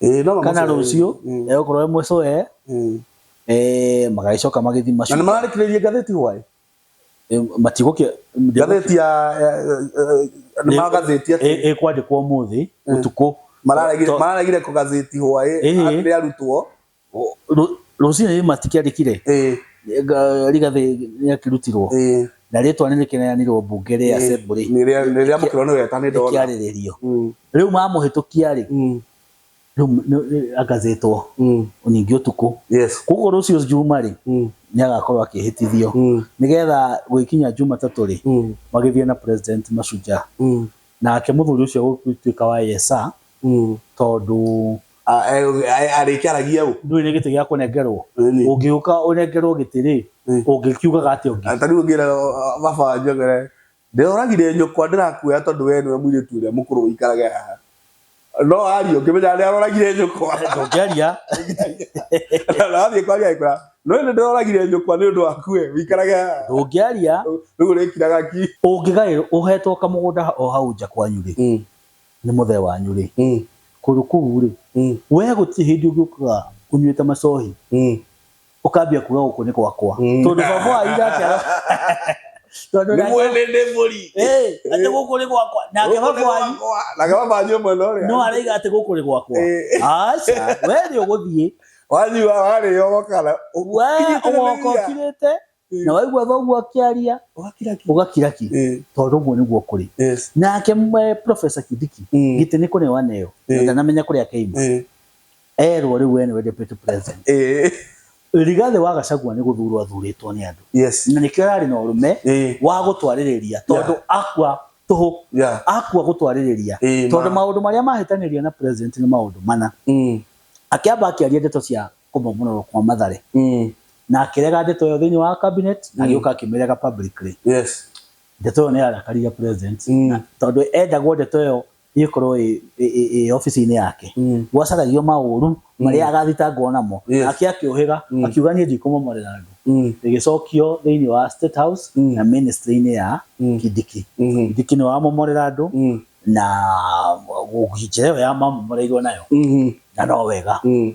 Eh, no kana mamũcere- rũciũ Mm. egũkorwo e mũcũe Mm. eh, magagĩcoka magĩthi na macu nĩ mararĩkĩrĩirie ngathĩti hwaĩ eh, matigũkĩa ngathĩti ya ya- eh, nĩ magathĩti atĩ ĩkwandĩkwo ũmũthĩ ũtukũ To- mararegire kũgathĩti hwaĩ Ĩhĩ. rĩa arutwo Rũcinĩ rĩu matikĩandĩkire Rigathĩ nĩ akĩrutirwo na rĩtwa nĩ rĩkĩneanirwo mbunge rĩa assembly rĩkĩarĩrĩrio. Rĩu mamũhĩtũkia rĩ, rĩu agathĩtwo ningĩ ũtukũ. Koguo rũciũ njuma rĩ, nĩ agakorwo akĩhĩtithio nĩgetha gũgĩkinya Jumatatũ rĩ, magĩthiĩ na president Mashujaa. Nake mũthuri ũcio agũgĩtuĩka wa yes sir tondũ arĩkĩaragia ũ ndũrĩ na gĩtĩ gĩa kũnengerwo ũngĩũka ũnengerwo gĩtĩ rĩ ũngĩkiugaga atĩa ũngĩ ta rĩu ũngĩra baba wanjũ ũngĩre ndĩroragire nyũkwa ndĩrakuoya tondũ we nĩwe mũirĩtu ũrĩa mũkũrũ ũikarage haha no aria ũngĩmenya nĩaroragire nyũkwa ndũngĩaria na athiĩ kwaria agĩkwĩra no nĩ ndĩroragire nyũkwa nĩ ũndũ waku we ũikarage haha ndũngĩaria rĩu ũrĩkiraga ki ũngĩgaĩrwo ũhetwo kamũgũnda o hau nja kwanyu rĩ Nĩ mũthee wanyu rĩ, kũndũ kũu rĩ, wee gũtirĩ hĩndĩ ũngĩũkaga ũnyuĩte macohi ũkambia kuga gũkũ nĩ gwakwa, tondũ baba wanyu nake tondũ nĩ mwene nĩ mũri, atĩ gũkũ nĩ gwakwa, nake baba wanyu nake baba wanyu mwena ũrĩa no araiga atĩ gũkũ nĩ gwakwa, aca wee nĩ ũgũthiĩ, wathiĩ warĩo ũgokana ũgoka ũkirĩte Eh. na waigua thoguo akĩaria Ũgakira ki. ũgakira ki Eh, tondũ ũguo nĩguo kũrĩ yes. nake mwe professor Kindiki Mm. gitĩ nĩ kũrĩ waneyo Eh. na ndanamenya kũrĩa keima Eh, erwo rĩu we nĩwe deputy president eh, rigathĩ wa gacagua nĩ gũthurwo athurĩtwo nĩ andũ yes. na nĩkĩo ararĩ na ũrũme Eh, wa gũtwarĩrĩria tondũ akua tũhũ yeah. akua gũtwarĩrĩria Eh, tondũ ma. maũndũ marĩa mahĩtanĩria na president nĩ maũndũ mana Mm, akĩamba akĩaria ndeto cia kũmomororwo kwa Mathare mm. na akĩrega ndeto ĩyo thĩinĩ wa cabinet mm. agĩũka akĩmĩrega publicly yes. ndeto ĩyo nĩ yarakarire president mm. na tondũ endagwo ndeto ĩyo ĩkorwo ĩ obici-inĩ yake mm. gwacaragio maũru mm. marĩa agathitangwo namo ake akĩũhĩga mm. akiuga niĩ ndikũmomorera andũ ĩgĩcokio mm. thĩinĩ wa state house mm. na ministry-inĩ ya mm. kindiki mm-hmm. kindiki nĩ wamomorera andũ mm. na njĩra ĩyo ya mamomoreirwo nayo mm-hmm. na no wega mm.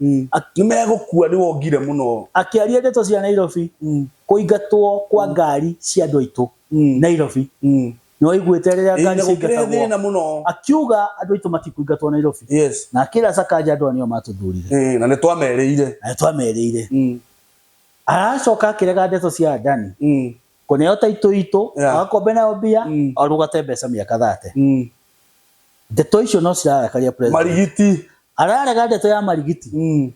Mm. Ak- nĩ megũkua nĩ wongire mũno Akĩaria ndeto cia Nairobi, Mm. kũingatwo kwa ngari cia andũ aitũ Mm. Nairobi. Mm. Nĩ waiguĩte rĩrĩa Ĩĩ, ngari na gũkĩrehe ciaingatagwo? thĩna mũno Akiuga andũ aitũ matikũingatwo Nairobi. yes Na akĩra Sakaja andũ aya nĩo matũthurire. Ĩĩ, na nĩ twamerĩire Na nĩ twamerĩire. Mm. Aracoka akĩrega ndeto cia Adani. Mm. Kũneo taitũ itũ, yeah. agakombe nayo mbia, mm. arũgate mbeca mĩaka thate. Mm. Ndeto icio no cirarakaria president. Marigiti. Ararega ndeto ya marigiti. Mm.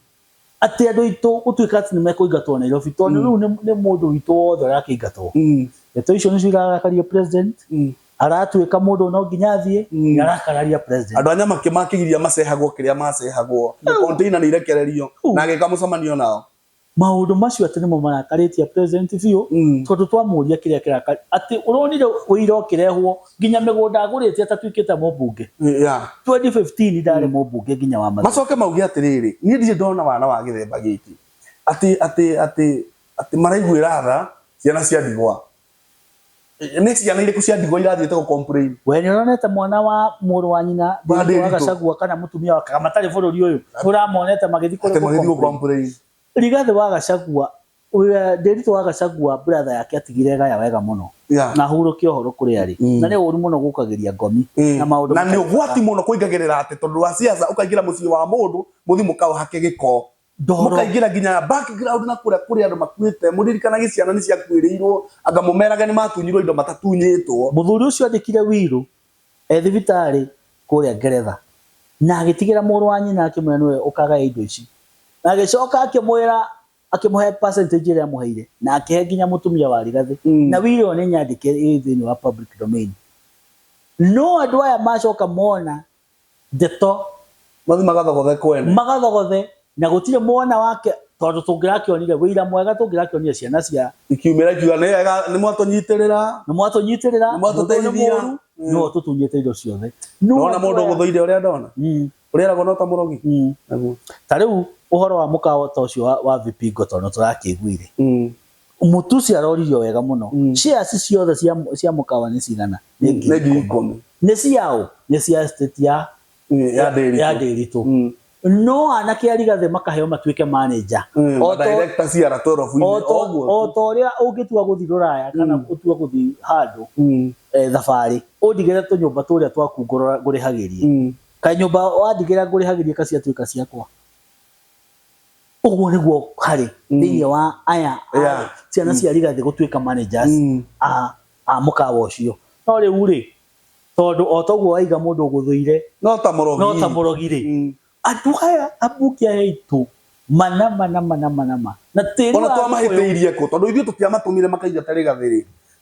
Atĩ andũ itũ gũtuĩka atĩ nĩ mekũingatwo Nairobi tondũ mm. rĩu nĩ mũndũ witũ wothe ũrakĩingatwo. Mm. Ndeto icio nĩcio irarakaria president. Mm aratuika mundu no nginya athie mm. arakararia president andu anya makimakigiria macehagwo kiria macehagwo mm. container ni irekererio na ageka mucemanio nao Maũndũ macio atĩ nĩmo marakarĩtie president biũ tondũ twamũria kĩrĩa kĩraka atĩ ũronire ũira ũkĩrehwo nginya mĩgũnda agũrĩte atatuĩkĩte mũmbunge? 2015 ndarĩ mũmbunge nginya wa Mathioya. Macoke mauge atĩrĩrĩ, niĩ ndirĩ ndona wana wa gĩthemba gĩkĩ atĩ atĩ atĩ atĩ maraiguĩra tha ciana cia ndigwa. nä ciana irä kå cia ndigwa irathiä te gå complain we nä ũronete mwana wa mũrũ wa nyina Bandĩrito. thĩinĩ wa gacagua kana mũtumia wa kaga matarĩ bũrũri ũyũ nĩ ũramonete magĩthiĩ atä magä thiä gå kũrĩ complain rigathĩ wa gacagua ũrĩa- ndĩritũ wa gacagua brother yake atigire gaya wega mũno Yeah. na ahurũkie ũhoro kũrĩ arĩ Mm. na nĩ ũru mũno gũkagĩria ngomi na maũndũ na nä å matarĩ gwati må no kå ingagä rä ra atä tondå wa ciaca å kaingä ra må ciä wa må ndå må thiä må kaå hake gä ko mukaingira nginya background na kuria kuri andu makuite muririkana giciana ni ciakuirirwo anga mumerage ni matunyirwo indo matatunyitwo muthuri ucio andikire wiru e thibitari kuria ngeretha na agitigira muru wa nyina akimwira niwe ukagaya indo ici na agicoka akimwira akimuhe percentage iria amuheire na akihe nginya mutumia wa rigathi mm. na wiru ni nyandike thiini wa public domain no andu aya macoka mona Ndeto. Mathi magathogothe kwene. Magathogothe, na gũtirĩ mwana wake, tondũ tũngĩrakĩonire ũira mwega tũngĩrakĩonire ciana cia. Ikiumĩra ikiuga, Nĩ wega, nĩ mwatũnyitĩrĩra. Nĩ mwatũnyitĩrĩra. Nĩ mwatũteithia. Nĩwe ũtũtunyĩte indo ciothe. Ndona mũndũ ũgũthũire ũrĩa ndona. Ũrĩa eragwo no ta mũrogi. Naguo. Ta rĩu ũhoro wa mũkawa ta ũcio wa Vipingo tondũ nĩ tũrakĩiguire. Mũtusi aroririo wega mũno. Mm. Shares ciothe cia cia mũkawa nĩ cigana? Nĩ ngiri ikũmi. Nĩ ciaũ? Nĩ cia estate ya eh, ya Ndĩritũ. Ya Ndĩritũ. Mm. No anake arigathĩ makaheo matuĩke manager. Mm, o director ciara 12 o to ũrĩa ũngĩtua gũthiĩ rũraya kana mm. ũtua gũthiĩ handũ mm. eh, thabarĩ ũndigĩre tũnyũmba tũrĩa twaku ngũrĩhagĩrie. Mm. Kanyũmba wandigĩra ngũrĩhagĩrie kaciatuĩka ciakwa. Ũguo nĩguo harĩ mm. thĩinĩ wa aya yeah. ciana mm. cia rigathĩ gũtuĩka managers mm. a, a mũkawa ũcio no rĩu rĩ tondũ o toguo waiga mũndũ ũgũthũire no ta mũrogi rĩ mm. andũ aya ambunge aya aitũ manama nama nama nama na tĩri ona twamahĩtĩirie kũ tondũ ithuĩ tũtiamatũmire makaigata rĩgathĩ rĩ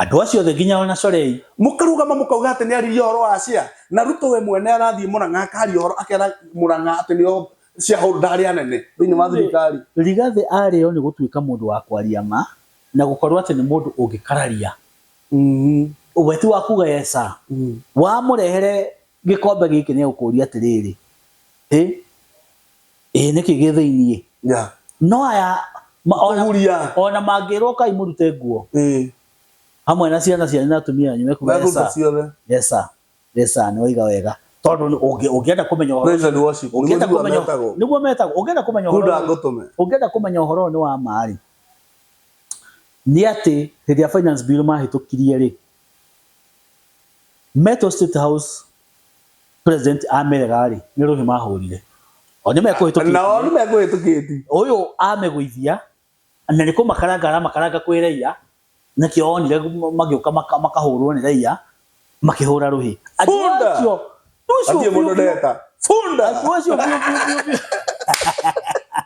Andũ acio othe nginya o na Sorei. Mũkarũgama mũkauga atĩ nĩaririe ũhoro wa Asia, na Ruto we mwene arathiĩ Mũrang'a akaria ũhoro akera Mũrang'a atĩ nĩo shareholder arĩa anene thĩinĩ wa thirikari. Rigathĩ arĩ o nĩ gũtuĩka mũndũ wa kwaria ma na gũkorwo atĩ nĩ mũndũ ũngĩkararia. We ti wa kuga yes sir. Wamũrehere gĩkombe gĩkĩ nĩ egũkũria atĩrĩrĩ, Hĩ! ĩĩ nĩkĩ gĩ thĩinĩ Ya. no aya ma- ona- Kũhuria. ona mangĩrwo kai mũrute nguo Ĩĩ. hamwe na ciana cianyu na atumia anyu mekuga Mekũruta yesa ciothe. yesa yesa nĩ waiga wega tondũ nĩ- ũngĩ- ũngĩenda kũmenya ũhoro Praise and worship. Nĩguo ũngĩenda nĩguo kũmenya metagwo. nĩguo metagwo ũngĩenda kũmenya ũhoro Buda ũyũ- ngũtũme. ũngĩenda kũmenya ũhoro ũyũ nĩ wa ma rĩ nĩ atĩ hĩndĩ ya finance bill mahĩtũkirie rĩ metwo state house president amerega rĩ nĩ rũhĩ mahũrire o nĩ mekũhĩtũkĩtie nao nĩ mekũhĩtũkĩti ũyũ amegũithia na nĩ kũmakaranga aramakaranga kwĩ raia nakĩo onire magĩũka maka- makahũrwo nĩ raia makĩhũra rũhĩ Andũ Bunda! acio- andũ acio atie mũndũ biũ biũ- ndeta bunda andũ acio biũ biũ biũ biũ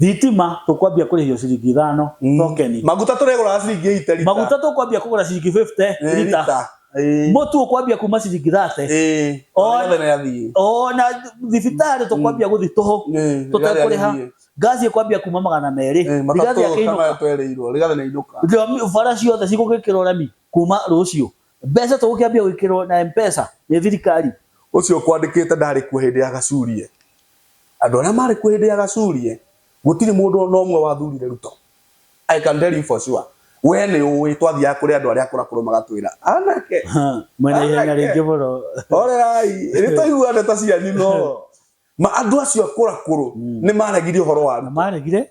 Thitima tũkwambia kũrĩhio ciringi ithano mm. tokeni. Maguta tũrĩgũraga ciringi 8 lita. Maguta tũkwambia kũgũra ciringi 50 lita. Mũtu ũkwambia kuma ciringi 30. Ona thibitarĩ tũkwambia gũthi tũhũ tũtekũrĩha. Ngaci ĩkwambia kuma magana merĩ. Rigathi akĩinũka. Bara ciothe cigũgĩkĩrwo rami kuma rũciũ. Mbeca tũgũkĩambia gwĩkĩrwo na Mpesa nĩ thirikari. Ũcio ũkwandĩkĩte ndarĩ kuo hĩndĩ ya Gacurie. Andũ arĩa marĩ kuo hĩndĩ ya Gacurie gũtirĩ mũndũ ona ũmwe wathurire Ruto. I can tell you for sure. Wee nĩ ũĩ twathiaga kũrĩ andũ arĩa akũrũ akũrũ magatwĩra anake. Mwĩna ihenya rĩingĩ mũno. Horerai, nĩ twaigua ndeto cianyu no. Ma andũ acio akũrũ akũrũ nĩ maregire ũhoro wa Ruto. Maregire?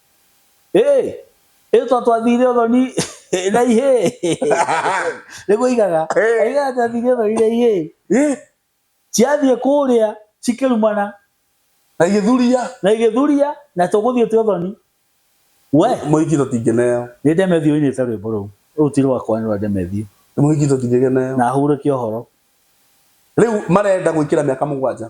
Hey, ĩyo twa twathire ũthoni na ihĩ nĩ kũigaga Hey. aigaga twathire ũthoni na ihĩ Eh, ciathiĩ kũrĩa cikĩrumana na igĩthuria na igĩthuria na tũgũthiĩ twĩ ũthoni we mũhiki tũtingĩneo nĩ ndemethiũ inĩte rwĩmbo rũu rũu ti rwakwa nĩ rwa ndemethiũ mũhiki tũtingĩgeneo na hurũke ũhoro rĩu marenda gwĩkĩra mĩaka mũgwanja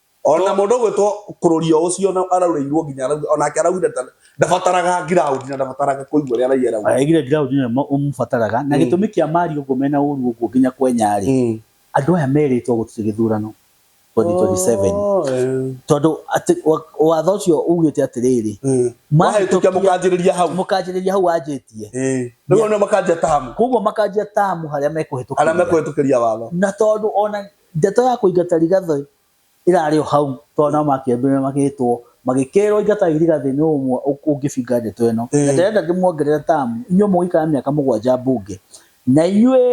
ona mũndũ ũgwĩtwo kũrũria ũcio na araurĩirwo nginya onake araugire ndabataraga ground na ndabataraga kũigua rĩa raia rau aigire ground nĩ mũbataraga na mm. gĩtũmi kĩa mari ũguo mena ũru ũguo nginya kwenya rĩ mm. andũ aya merĩtwo gũtirĩ gĩthurano 2027 tondũ watho ũcio ugĩte atĩrĩrĩ mm. mahĩtũkia mũkanjĩrĩria hau mũkanjĩrĩria hau wanjĩtie nĩguo nĩ makanjia tamu koguo makanjia tamu harĩa mekũhĩtũkĩria watho na tondũ ona Ndeto ya kũingata irigati ĩrarĩ o hau tondũ nao makĩambire magĩtwo magĩkerwo ingata irigati nũ ũmwe ũngĩbinga ndeto ĩno na ndĩrenda ndĩmuongerere tamu inyuĩ mũgũikara mĩaka mũgwanja bunge na inyuĩ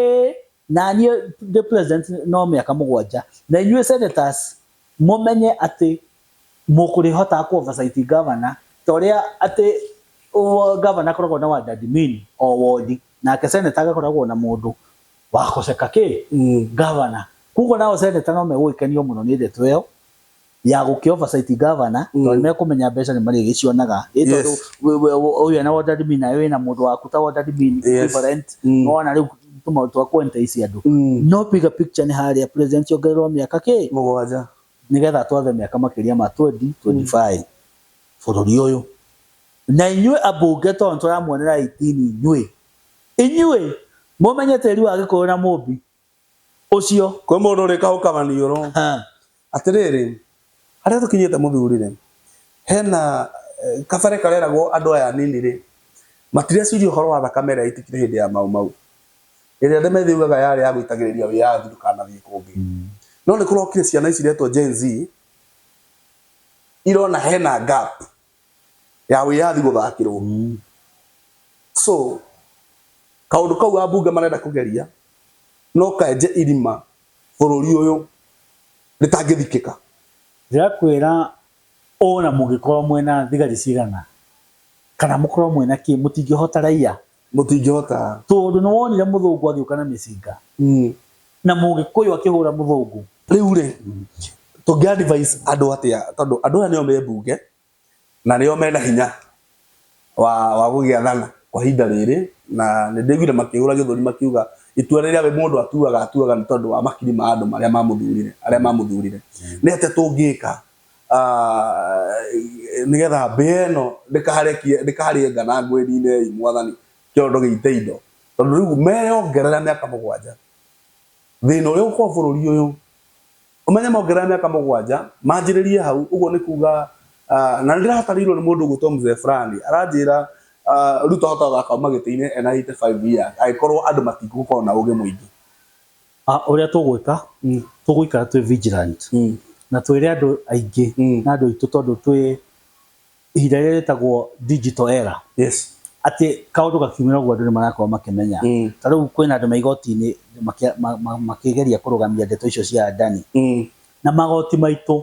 na niĩ ndĩ president no mĩaka mũgwanja na inyuĩ senators mũmenye atĩ mũkũrĩhotaga kũ oversight governor ta ũrĩa atĩ governor akoragwo na ward admin o wondi nake senator agakoragwo na mũndũ Wakoseka kĩ? Governor. Koguo nao senator no megũgĩkenio mũno nĩ ndeto ĩyo ya gũkĩ oversight governor tondũ nĩ mekũmenya mbeca nĩ marĩgĩcionaga. Ĩ tondũ Yes. wĩ- wĩ- wĩ- ũyũ ena ward admin nawe wĩna mũndũ waku ta ward admin Yes. equivalent. Mm. Nĩwona rĩu tũmaũndũ twa kũ entice andũ. Mm. No bigger picture nĩ harĩa president ongererwo mĩaka kĩ? Mũgwanja. nĩgetha atwathe mĩaka makĩria ma 20 25 bũrũri ũyũ na inyuĩ ambunge tondũ tũramuonera 18 inyuĩ Inyuĩ mũmenye tĩri wa Gĩkũyũ na Mũmbi ũcio. Kwĩ mũndũ ũrĩkahũkaga niũrũ. Atĩrĩrĩ, harĩa tũkinyĩte mũthuri-rĩ, hena kabere kareragwo andũ aya anini-rĩ, matireciria ũhoro wa thakame ĩrĩa yaitĩkire hĩndĩ ya Mau Mau, ĩrĩa andũ methiũgaga yarĩ ya gũitagĩrĩria wĩyathi ndũkanathiĩ kũngĩ. No nĩkũrokire ciana ici iretwo Gen-Z, irona hena gap. ya wiyathi guthakirwo mm. so kaundu kau ambunge marenda kugeria no kaenje irima bururi uyu ritangithikika ndirakwira ona mugikorwo mwena thigari cigana kana mukorwo mwena ki mutingihota raia Mũtingĩhota. Tondũ nĩwonire mũthũngũ agĩũka na mĩcinga na mũgĩkũyũ akĩhũra mũthũngũ. Rĩu rĩ, tũngĩ advise andũ atĩa tondũ andũ aya nĩo me mbunge na nĩo mena hinya wa wa gũgĩathana kwa ihinda rĩrĩ na nĩndĩiguire makĩhũra gĩthũri makiuga itua rĩrĩa we mũndũ atuaga atuaga nĩ tondũ wa makiri ma andũ marĩa mamũthurire arĩa mamũthurire. Nĩ atĩa tũngĩka nĩgetha mbĩa ĩno ndĩkarĩe ngana ngwĩri-inĩ ĩĩ mwathani kĩondo gĩite indo. Tondũ rĩu meyongerera mĩaka mũgwanja, thĩna ũrĩa ũgũkorwo bũrũri ũyũ, ũmenye mongerera mĩaka mũgwanja, manjĩrĩrie hau, ũguo nĩ kuuga, na nĩ ndĩratarirwo nĩ mũndũ ũgwĩtwo Mzee Fulani, aranjĩra Ruto ahotaga gũthaka auma gĩtĩ-inĩ ena eighty five years, angĩkorwo andũ matigũkorwo na ũũgĩ mũingĩ. Ah, ũrĩa tũgwĩka Mm. tũgũikara twĩ vigilant Mm. na twĩre andũ aingĩ Mm. na andũ aitũ tondũ twĩ ihinda rĩrĩa rĩtagwo digital era Yes. atĩ kaũndũ gakiumĩra ũguo andũ nĩ marakorwo makĩmenya Mm. ta rĩu kwĩna andũ me igoti-inĩ makĩ- ma- ma- makĩgeria kũrũgamia ndeto icio cia Adani Mm. na magoti maitũ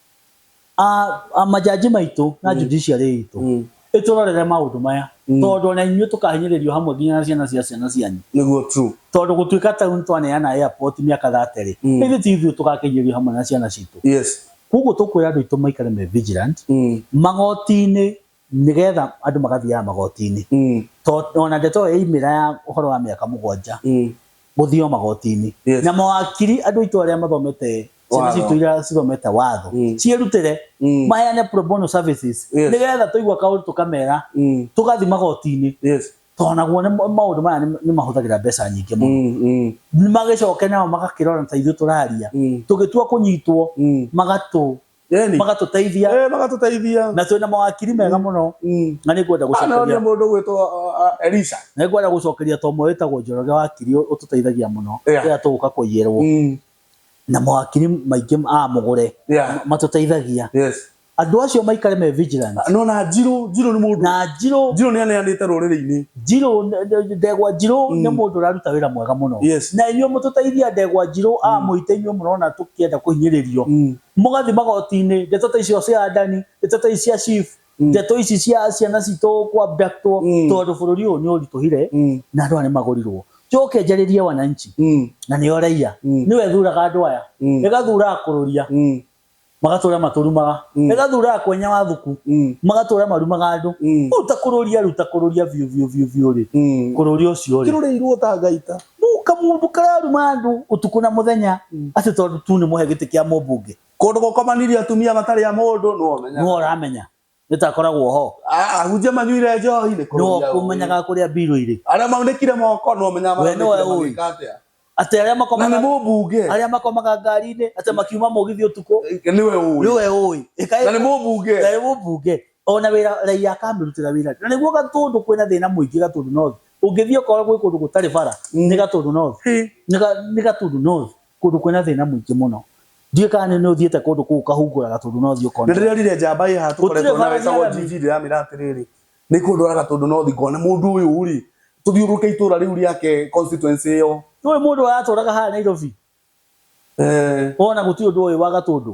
a a majaji maitũ na judiciary itũ Mm. ĩtũrorere maũndũ maya tondũ ona inyuĩ tũkahinyĩrĩrio hamwe nginya na ciana cia ciana cianyu niguo true tondũ gũtuĩka ta rĩu twaneana airport mĩaka thaterĩ Mm. ĩthĩ ti ithuĩ tũgakinyĩrio hamwe na ciana citũ yes koguo tũkwĩra andũ aitũ maikare me vigilant mm. magoti-inĩ nĩgetha andũ magathiaga magoti-inĩ Mm. to ona ndeto ĩyo yaimĩra ya ũhoro wa mĩaka mũgwanja Mm. gũthiio magoti-inĩ Yes. na mawakiri andũ aitũ arĩa mathomete ciana Watho. citũ iria cithomete watho Mm. ciĩrutĩre Mm. maheane pro bono services Yes. nĩgetha tũigua kaũndũ tũkamera Mm. tũgathi magoti-inĩ Yes. to naguo nĩ- maũndũ maya nĩ- nĩ mahũthagĩra mbeca nyingĩ mũno Mm. Mm. magĩcoke nao magakĩrora ta ithuĩ tũraria Mm. tũgĩtua kũnyitwo Mm. magatũ Eni. magatũteithia Eh, magatũteithia na twĩna mawakiri mega mũno Mm. na nĩ ngwenda Ah, no nĩ gũcokeria mũndũ gwĩtwo Elisha nĩ ngwenda gũcokeria to ũmwe wĩtagwo njoroge wakiri ũtũteithagia mũno Yeah. rĩrĩa tũgũka kũiyĩrwo Mm. na mawakiri maingĩ a mũgũre Yeah. matũteithagia yes andũ acio maikare me vigilant no na njirũ njirũ nĩ mũndũ na njirũ njirũ nĩ aneanĩte rũrĩrĩ-inĩ Njirũ n- n- ndegwa njirũ nĩ mũndũ ũraruta wĩra mwega mũno Yes. na inyuĩ mũtũteithia ndegwa njirũ a mũite inyuĩ mũrona tũkĩenda kũhinyĩrĩrio mũgathiĩ magoti-inĩ ndeto ta icio cia adani ndeto ta ici cia chief ndeto ici cia ciana citũ kwa abductwo tondũ bũrũri ũyũ nĩ ũritũhire na andũ aya nĩ magũrirwo njoke njarĩrie wananchi na nĩo raiya nĩwe thuraga andũ aya ĩgathura akũrũria magatũra matũrumaga mm. ĩgathura akwenya wa thuku mm. magatũra marumaga andũ mm. rĩu ta kũrũria rĩu ta kũrũria biũ biũ biũ biũ rĩ mm. kũrũria ũcio rĩ kĩrũrĩirwo ta ngaita kamũndũ kararuma andũ ũtukũ na mũthenya mm. acio tondũ tu nĩ mũhe gĩtĩ kĩa mũmbunge kũndũ gũkomanirie atumia matarĩ a mũndũ nũ ũramenya nĩtakoragwo ho A- ahunjia manyuire njohi nĩ nĩwe kũrũria ũũĩ. ũkũmenyaga kũrĩa mbirũ irĩ Arĩa maunĩkire moko nĩwe ũmenyaga We nĩwe maunĩkire ũũĩ. magĩka atĩa. atĩ arĩa Na nĩ makomaga mũmbunge arĩa makomaga ngari-inĩ atĩ makiuma mũgithi ũtukũ nĩwe ũĩ. nĩwe ũĩ Ĩkaĩ- Na nĩ mũmbunge na nĩ mũmbunge ona wĩra raia akamĩrutĩra wĩra na nĩguo gatũndũ kwĩna thĩna mũingĩ gatũndũ north ũngĩthiĩ ũkora gwĩ kũndũ gũtarĩ bara nĩ gatũndũ north Nĩ ga- nĩ gatũndũ north Kũndũ kwĩna thĩna mũingĩ mũno. Ndiũĩ kana nĩ nĩ ũthiĩte kũndũ kũu ũkahungũraga tondũ no ũthiĩ ũkone. Nĩ ndĩronire njamba ĩĩ haha tũkoretwo nayo ĩtagwo GG ndĩramĩra atĩrĩrĩ, nĩ ihũndũraga tondũ no ũthiĩ ngone mũndũ ũyũ rĩ, tũthiũrũrũke itũũra rĩu rĩake constituency ĩyo. Ndũĩ mũndũ ũratũraga haha Nairobi? Wona gũtirĩ ũndũ ũĩ wa Gatũndũ?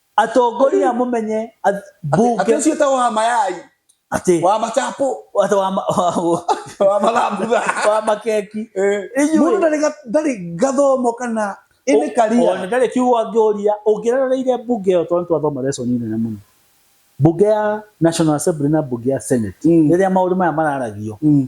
Atongoria mũmenye ath- Atĩ mbunge ũcio ta wa mayai, atĩ wa machapo, atĩ wa ma- wa- wa mathambutha. wa makeki Eh, Inyuĩ- Mũndũ ndarĩ ga- ndarĩ gathomo kana ĩnĩ Ona karia. ndarĩ kiugo angĩũria ũngĩrereire mbunge ĩyo tondũ twathoma lesson nene mũno mbunge ya national assembly na mbunge ya senate Mm. rĩrĩa maũndũ maya mararagio Mm.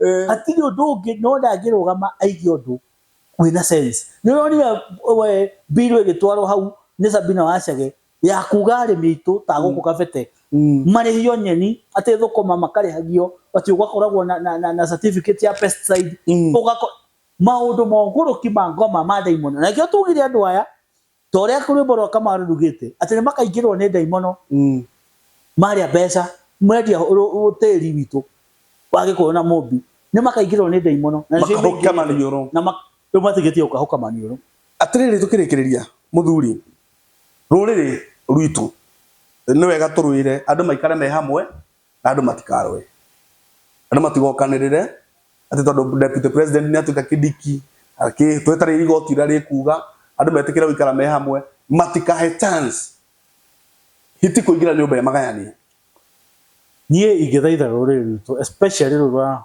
Eh. hatirĩ ũndũ ũngĩ no ndangĩrũgama aige ũndũ wĩna sense nĩ ũronire we bill ĩgĩtwarwo hau nĩ Sabina Wachage ya kuga arĩmi aitũ ta gũkũ Kabete marĩhio nyeni atĩ thũkũma makarĩhagio atĩ ũgakoragwo na, na, na, na certificate ya pesticide Mm. ũgako maũndũ mogũrũki ma ngoma ma ndaimono na nĩkĩo tugire andũ aya Ta ũrĩa rwĩmbo rwa Kamaru rugĩte, atĩ nĩ makaingĩrwo nĩ ndaimono marĩa mbeca, mwendia tĩri witũ wa Gĩkũyũ na Mũmbi, nĩ makaingĩrwo nĩ ndaimono na nĩcio imũingĩrĩte. Makahũka maniũrũ. Na rĩu matigĩtie gũkahũka maniũrũ. Atĩrĩrĩ, tũkĩrĩkĩrĩria, mũthuri, rũrĩrĩ rwitũ nĩ wega tũrũĩre andũ maikare me hamwe, na andũ matikarũe andũ matigokanĩrĩre atĩ tondũ deputy president nĩ atuĩka kĩdiki twetereire igoti ũrĩa rĩkuga andũ metĩkĩre gũikara me hamwe matikahe chance hiti kũingĩra nyũmba ĩmagayanie. Niĩ ingĩthaitha rũrĩrĩ rwitũ especially rũrũ rwa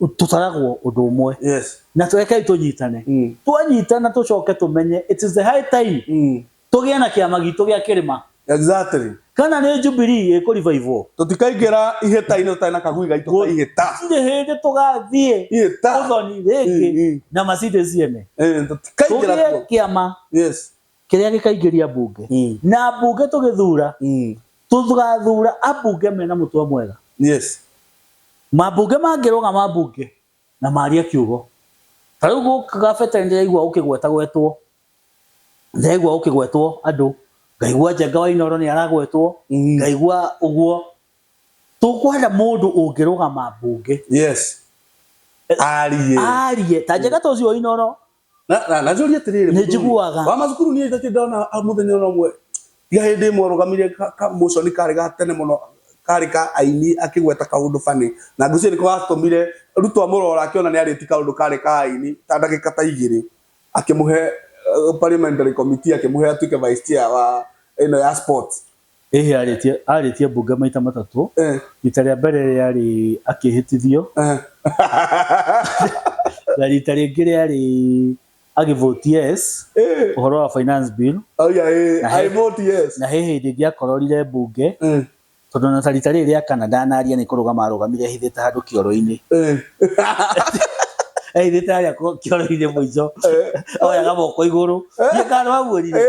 tũtaragwo ũndũ ũmwe yes na tũrekei tũnyitane Mm. twanyitana tũcoke tũmenye it is the high time mm. tũgĩe na kĩama gitũ gĩa kĩrĩma exactly kana nĩ jubilee ĩkũrivaivwo tũtikaingĩra ihĩta-inĩ tũtarĩ na kagui gaitũ ka ihĩta tirĩ hĩndĩ tũgathiĩ ihĩta ũthoni Mm, mm. rĩngĩ na macindĩ ciene Eh, tũtikaingĩra tũgĩe kuo kĩama yes Kĩrĩa gĩkaingĩria mbunge. Na mbunge tũgĩthura, tũgathura ambunge mena mũtwe mwega. Yes. Mambunge mangĩrũgama mbunge na marie kiugo. Ta rĩu gũkũ Kabete nĩndĩraigua gũkĩgwetagwetwo, ndĩraigua gũkĩgwetwo andũ, ngaigua Njenga wa Inooro nĩaragwetwo, ngaigua ũguo. Tũkwenda mũndũ ũngĩrũgama mbunge. Yes. Arie. Arie. Ta Njenga ta ũcio wa Inooro, Na- na- na njũrie atĩrĩrĩ Nĩ mũthuri, njiguaga. wa macukuru niĩ ndirĩ ndona ah, mũthenya ona ũmwe tiga hĩndĩ ĩmwe ũrũgamire ka- ka motion karĩ ga tene mũno karĩ ka aini akĩgweta kaũndũ bani na ngũcio nĩko gatũmire ruto amũrora akĩona nĩ arĩti kaũndũ karĩ ka aini ta ndagĩka ta igĩrĩ akĩmũhe eh, parliamentary committee akĩmũhe atuĩke vice chair wa ĩno ya sports Ĩhĩ arĩtie arĩtie mbunge maita matatũ, Eh. rita rĩa mbere rĩarĩ akĩhĩtithio, Eh. na rita rĩngĩ rĩarĩ agĩ vote yes Eh. ũhoro wa finance bill, Oya ĩ. Na he- I vote yes. na he hĩndĩ ĩngĩ akororire mbunge Eh. tondũ na ta rita rĩrĩ rĩa kana ndanaria nĩ kũrũgama arũgamire ehithĩte handũ kĩoro-inĩ. Eh. aithite aria kioro-inĩ mũico oyaga moko igũrũ thiĩ kana wamuonire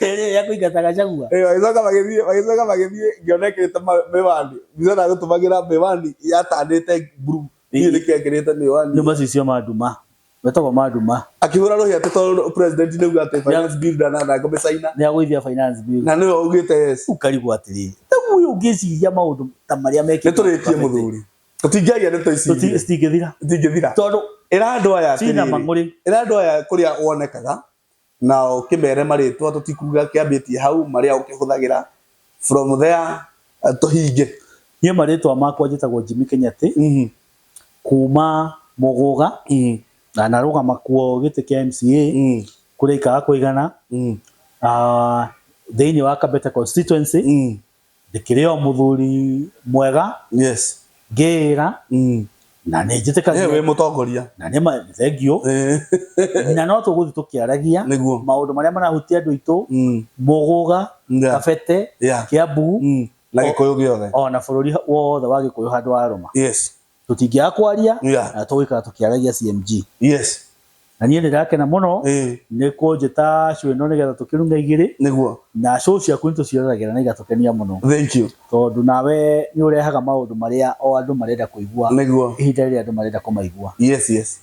rĩrĩa kũingata gacagua magĩcoka magĩthiĩ magĩcoka magĩthiĩ ngĩona ĩkĩrĩte ma- mĩwani mbica na gũtũmagĩra mĩwani yatanĩte nguru niĩ nĩkĩo ĩkĩrĩte mĩwani nĩ macicio ma nduma metagwo ma nduma akĩhũra rũhĩa atĩ tondũ president nĩ uga atĩ finance bill ndanatha ngome China nĩ agũithia finance bill na nĩwe augĩte yes ukarigwo atĩrĩrĩ rĩu ũyũ ũngĩciria maũndũ ta marĩa nĩ tũrĩtie mekĩte mũthuri tũtingĩaria ndeto ici Tũti- igĩrĩ. citingĩthira itingĩthira tondũ ĩra andũ aya cina atĩrĩrĩ, mang'ũrĩ ĩra andũ aya kũrĩa wonekaga na ũkĩmere marĩtwa tũtikuga kĩambĩtie hau marĩa ũkĩhũthagĩra from there eh, tũhinge niĩ marĩtwa makwa njĩtagwo Jimmy Kenyatĩ Mhm, kuma Mũgũga mhm, na narũgama kuo gĩtĩ kĩa MCA mhm, kũrĩa ikaga kũigana mhm, ah, thĩinĩ wa Kabete constituency mhm, Ndĩkĩrĩ o mũthuri mwega. Yes. Ngĩĩra. Mm. Na nĩ njĩtĩkagia. Wĩ mũtongoria. Na nĩ ma thengiũ. Na no tũgũthiĩ tũkĩaragia. Nĩguo. Maũndũ marĩa marahutia andũ aitũ. Mm. Mũgũga. Yeah. Kabete. Yeah. Kiambu. Mm. Na Gĩkũyũ gĩothe. Ona bũrũri wothe wa Gĩkũyũ handũ wa Rũma. Yes. tũtingĩaga kwaria Yeah. na tũgũikara tũkĩaragia CMG yes na niĩ ndĩrakena mũno Eh. nĩ kũnjĩta show ĩno nĩgetha tũkĩrunga igĩrĩ nĩguo na show ciaku nĩ tũcioragĩra na igatũkenia mũno thank you tondũ nawe nĩ ũrehaga maũndũ marĩa o andũ marenda kũigua nĩguo ihinda rĩrĩa andũ marenda kũmaigua yes yes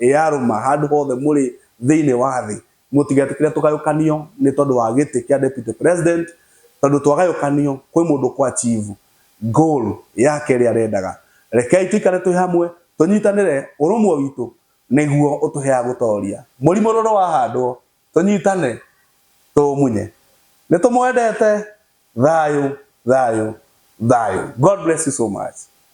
Ĩ arũma, handũ hothe mũrĩ thĩinĩ wa thĩ, mũtigetĩkĩre tũgayũkanio nĩ tondũ wa gĩtĩ kĩa Deputy President, tondũ twagayũkanio kwĩ mũndũ kũachivu goal yake ĩrĩa arendaga. Rekei tũikare twĩ hamwe, tũnyitanĩre, ũrũmwe witũ nĩguo ũtũheaga gũtooria. Mũrimũ rũrũ wahandwo, tũnyitane tũũmunye. Nĩ tũmwendete. Thayũ, thayũ, thayũ. God bless you so much.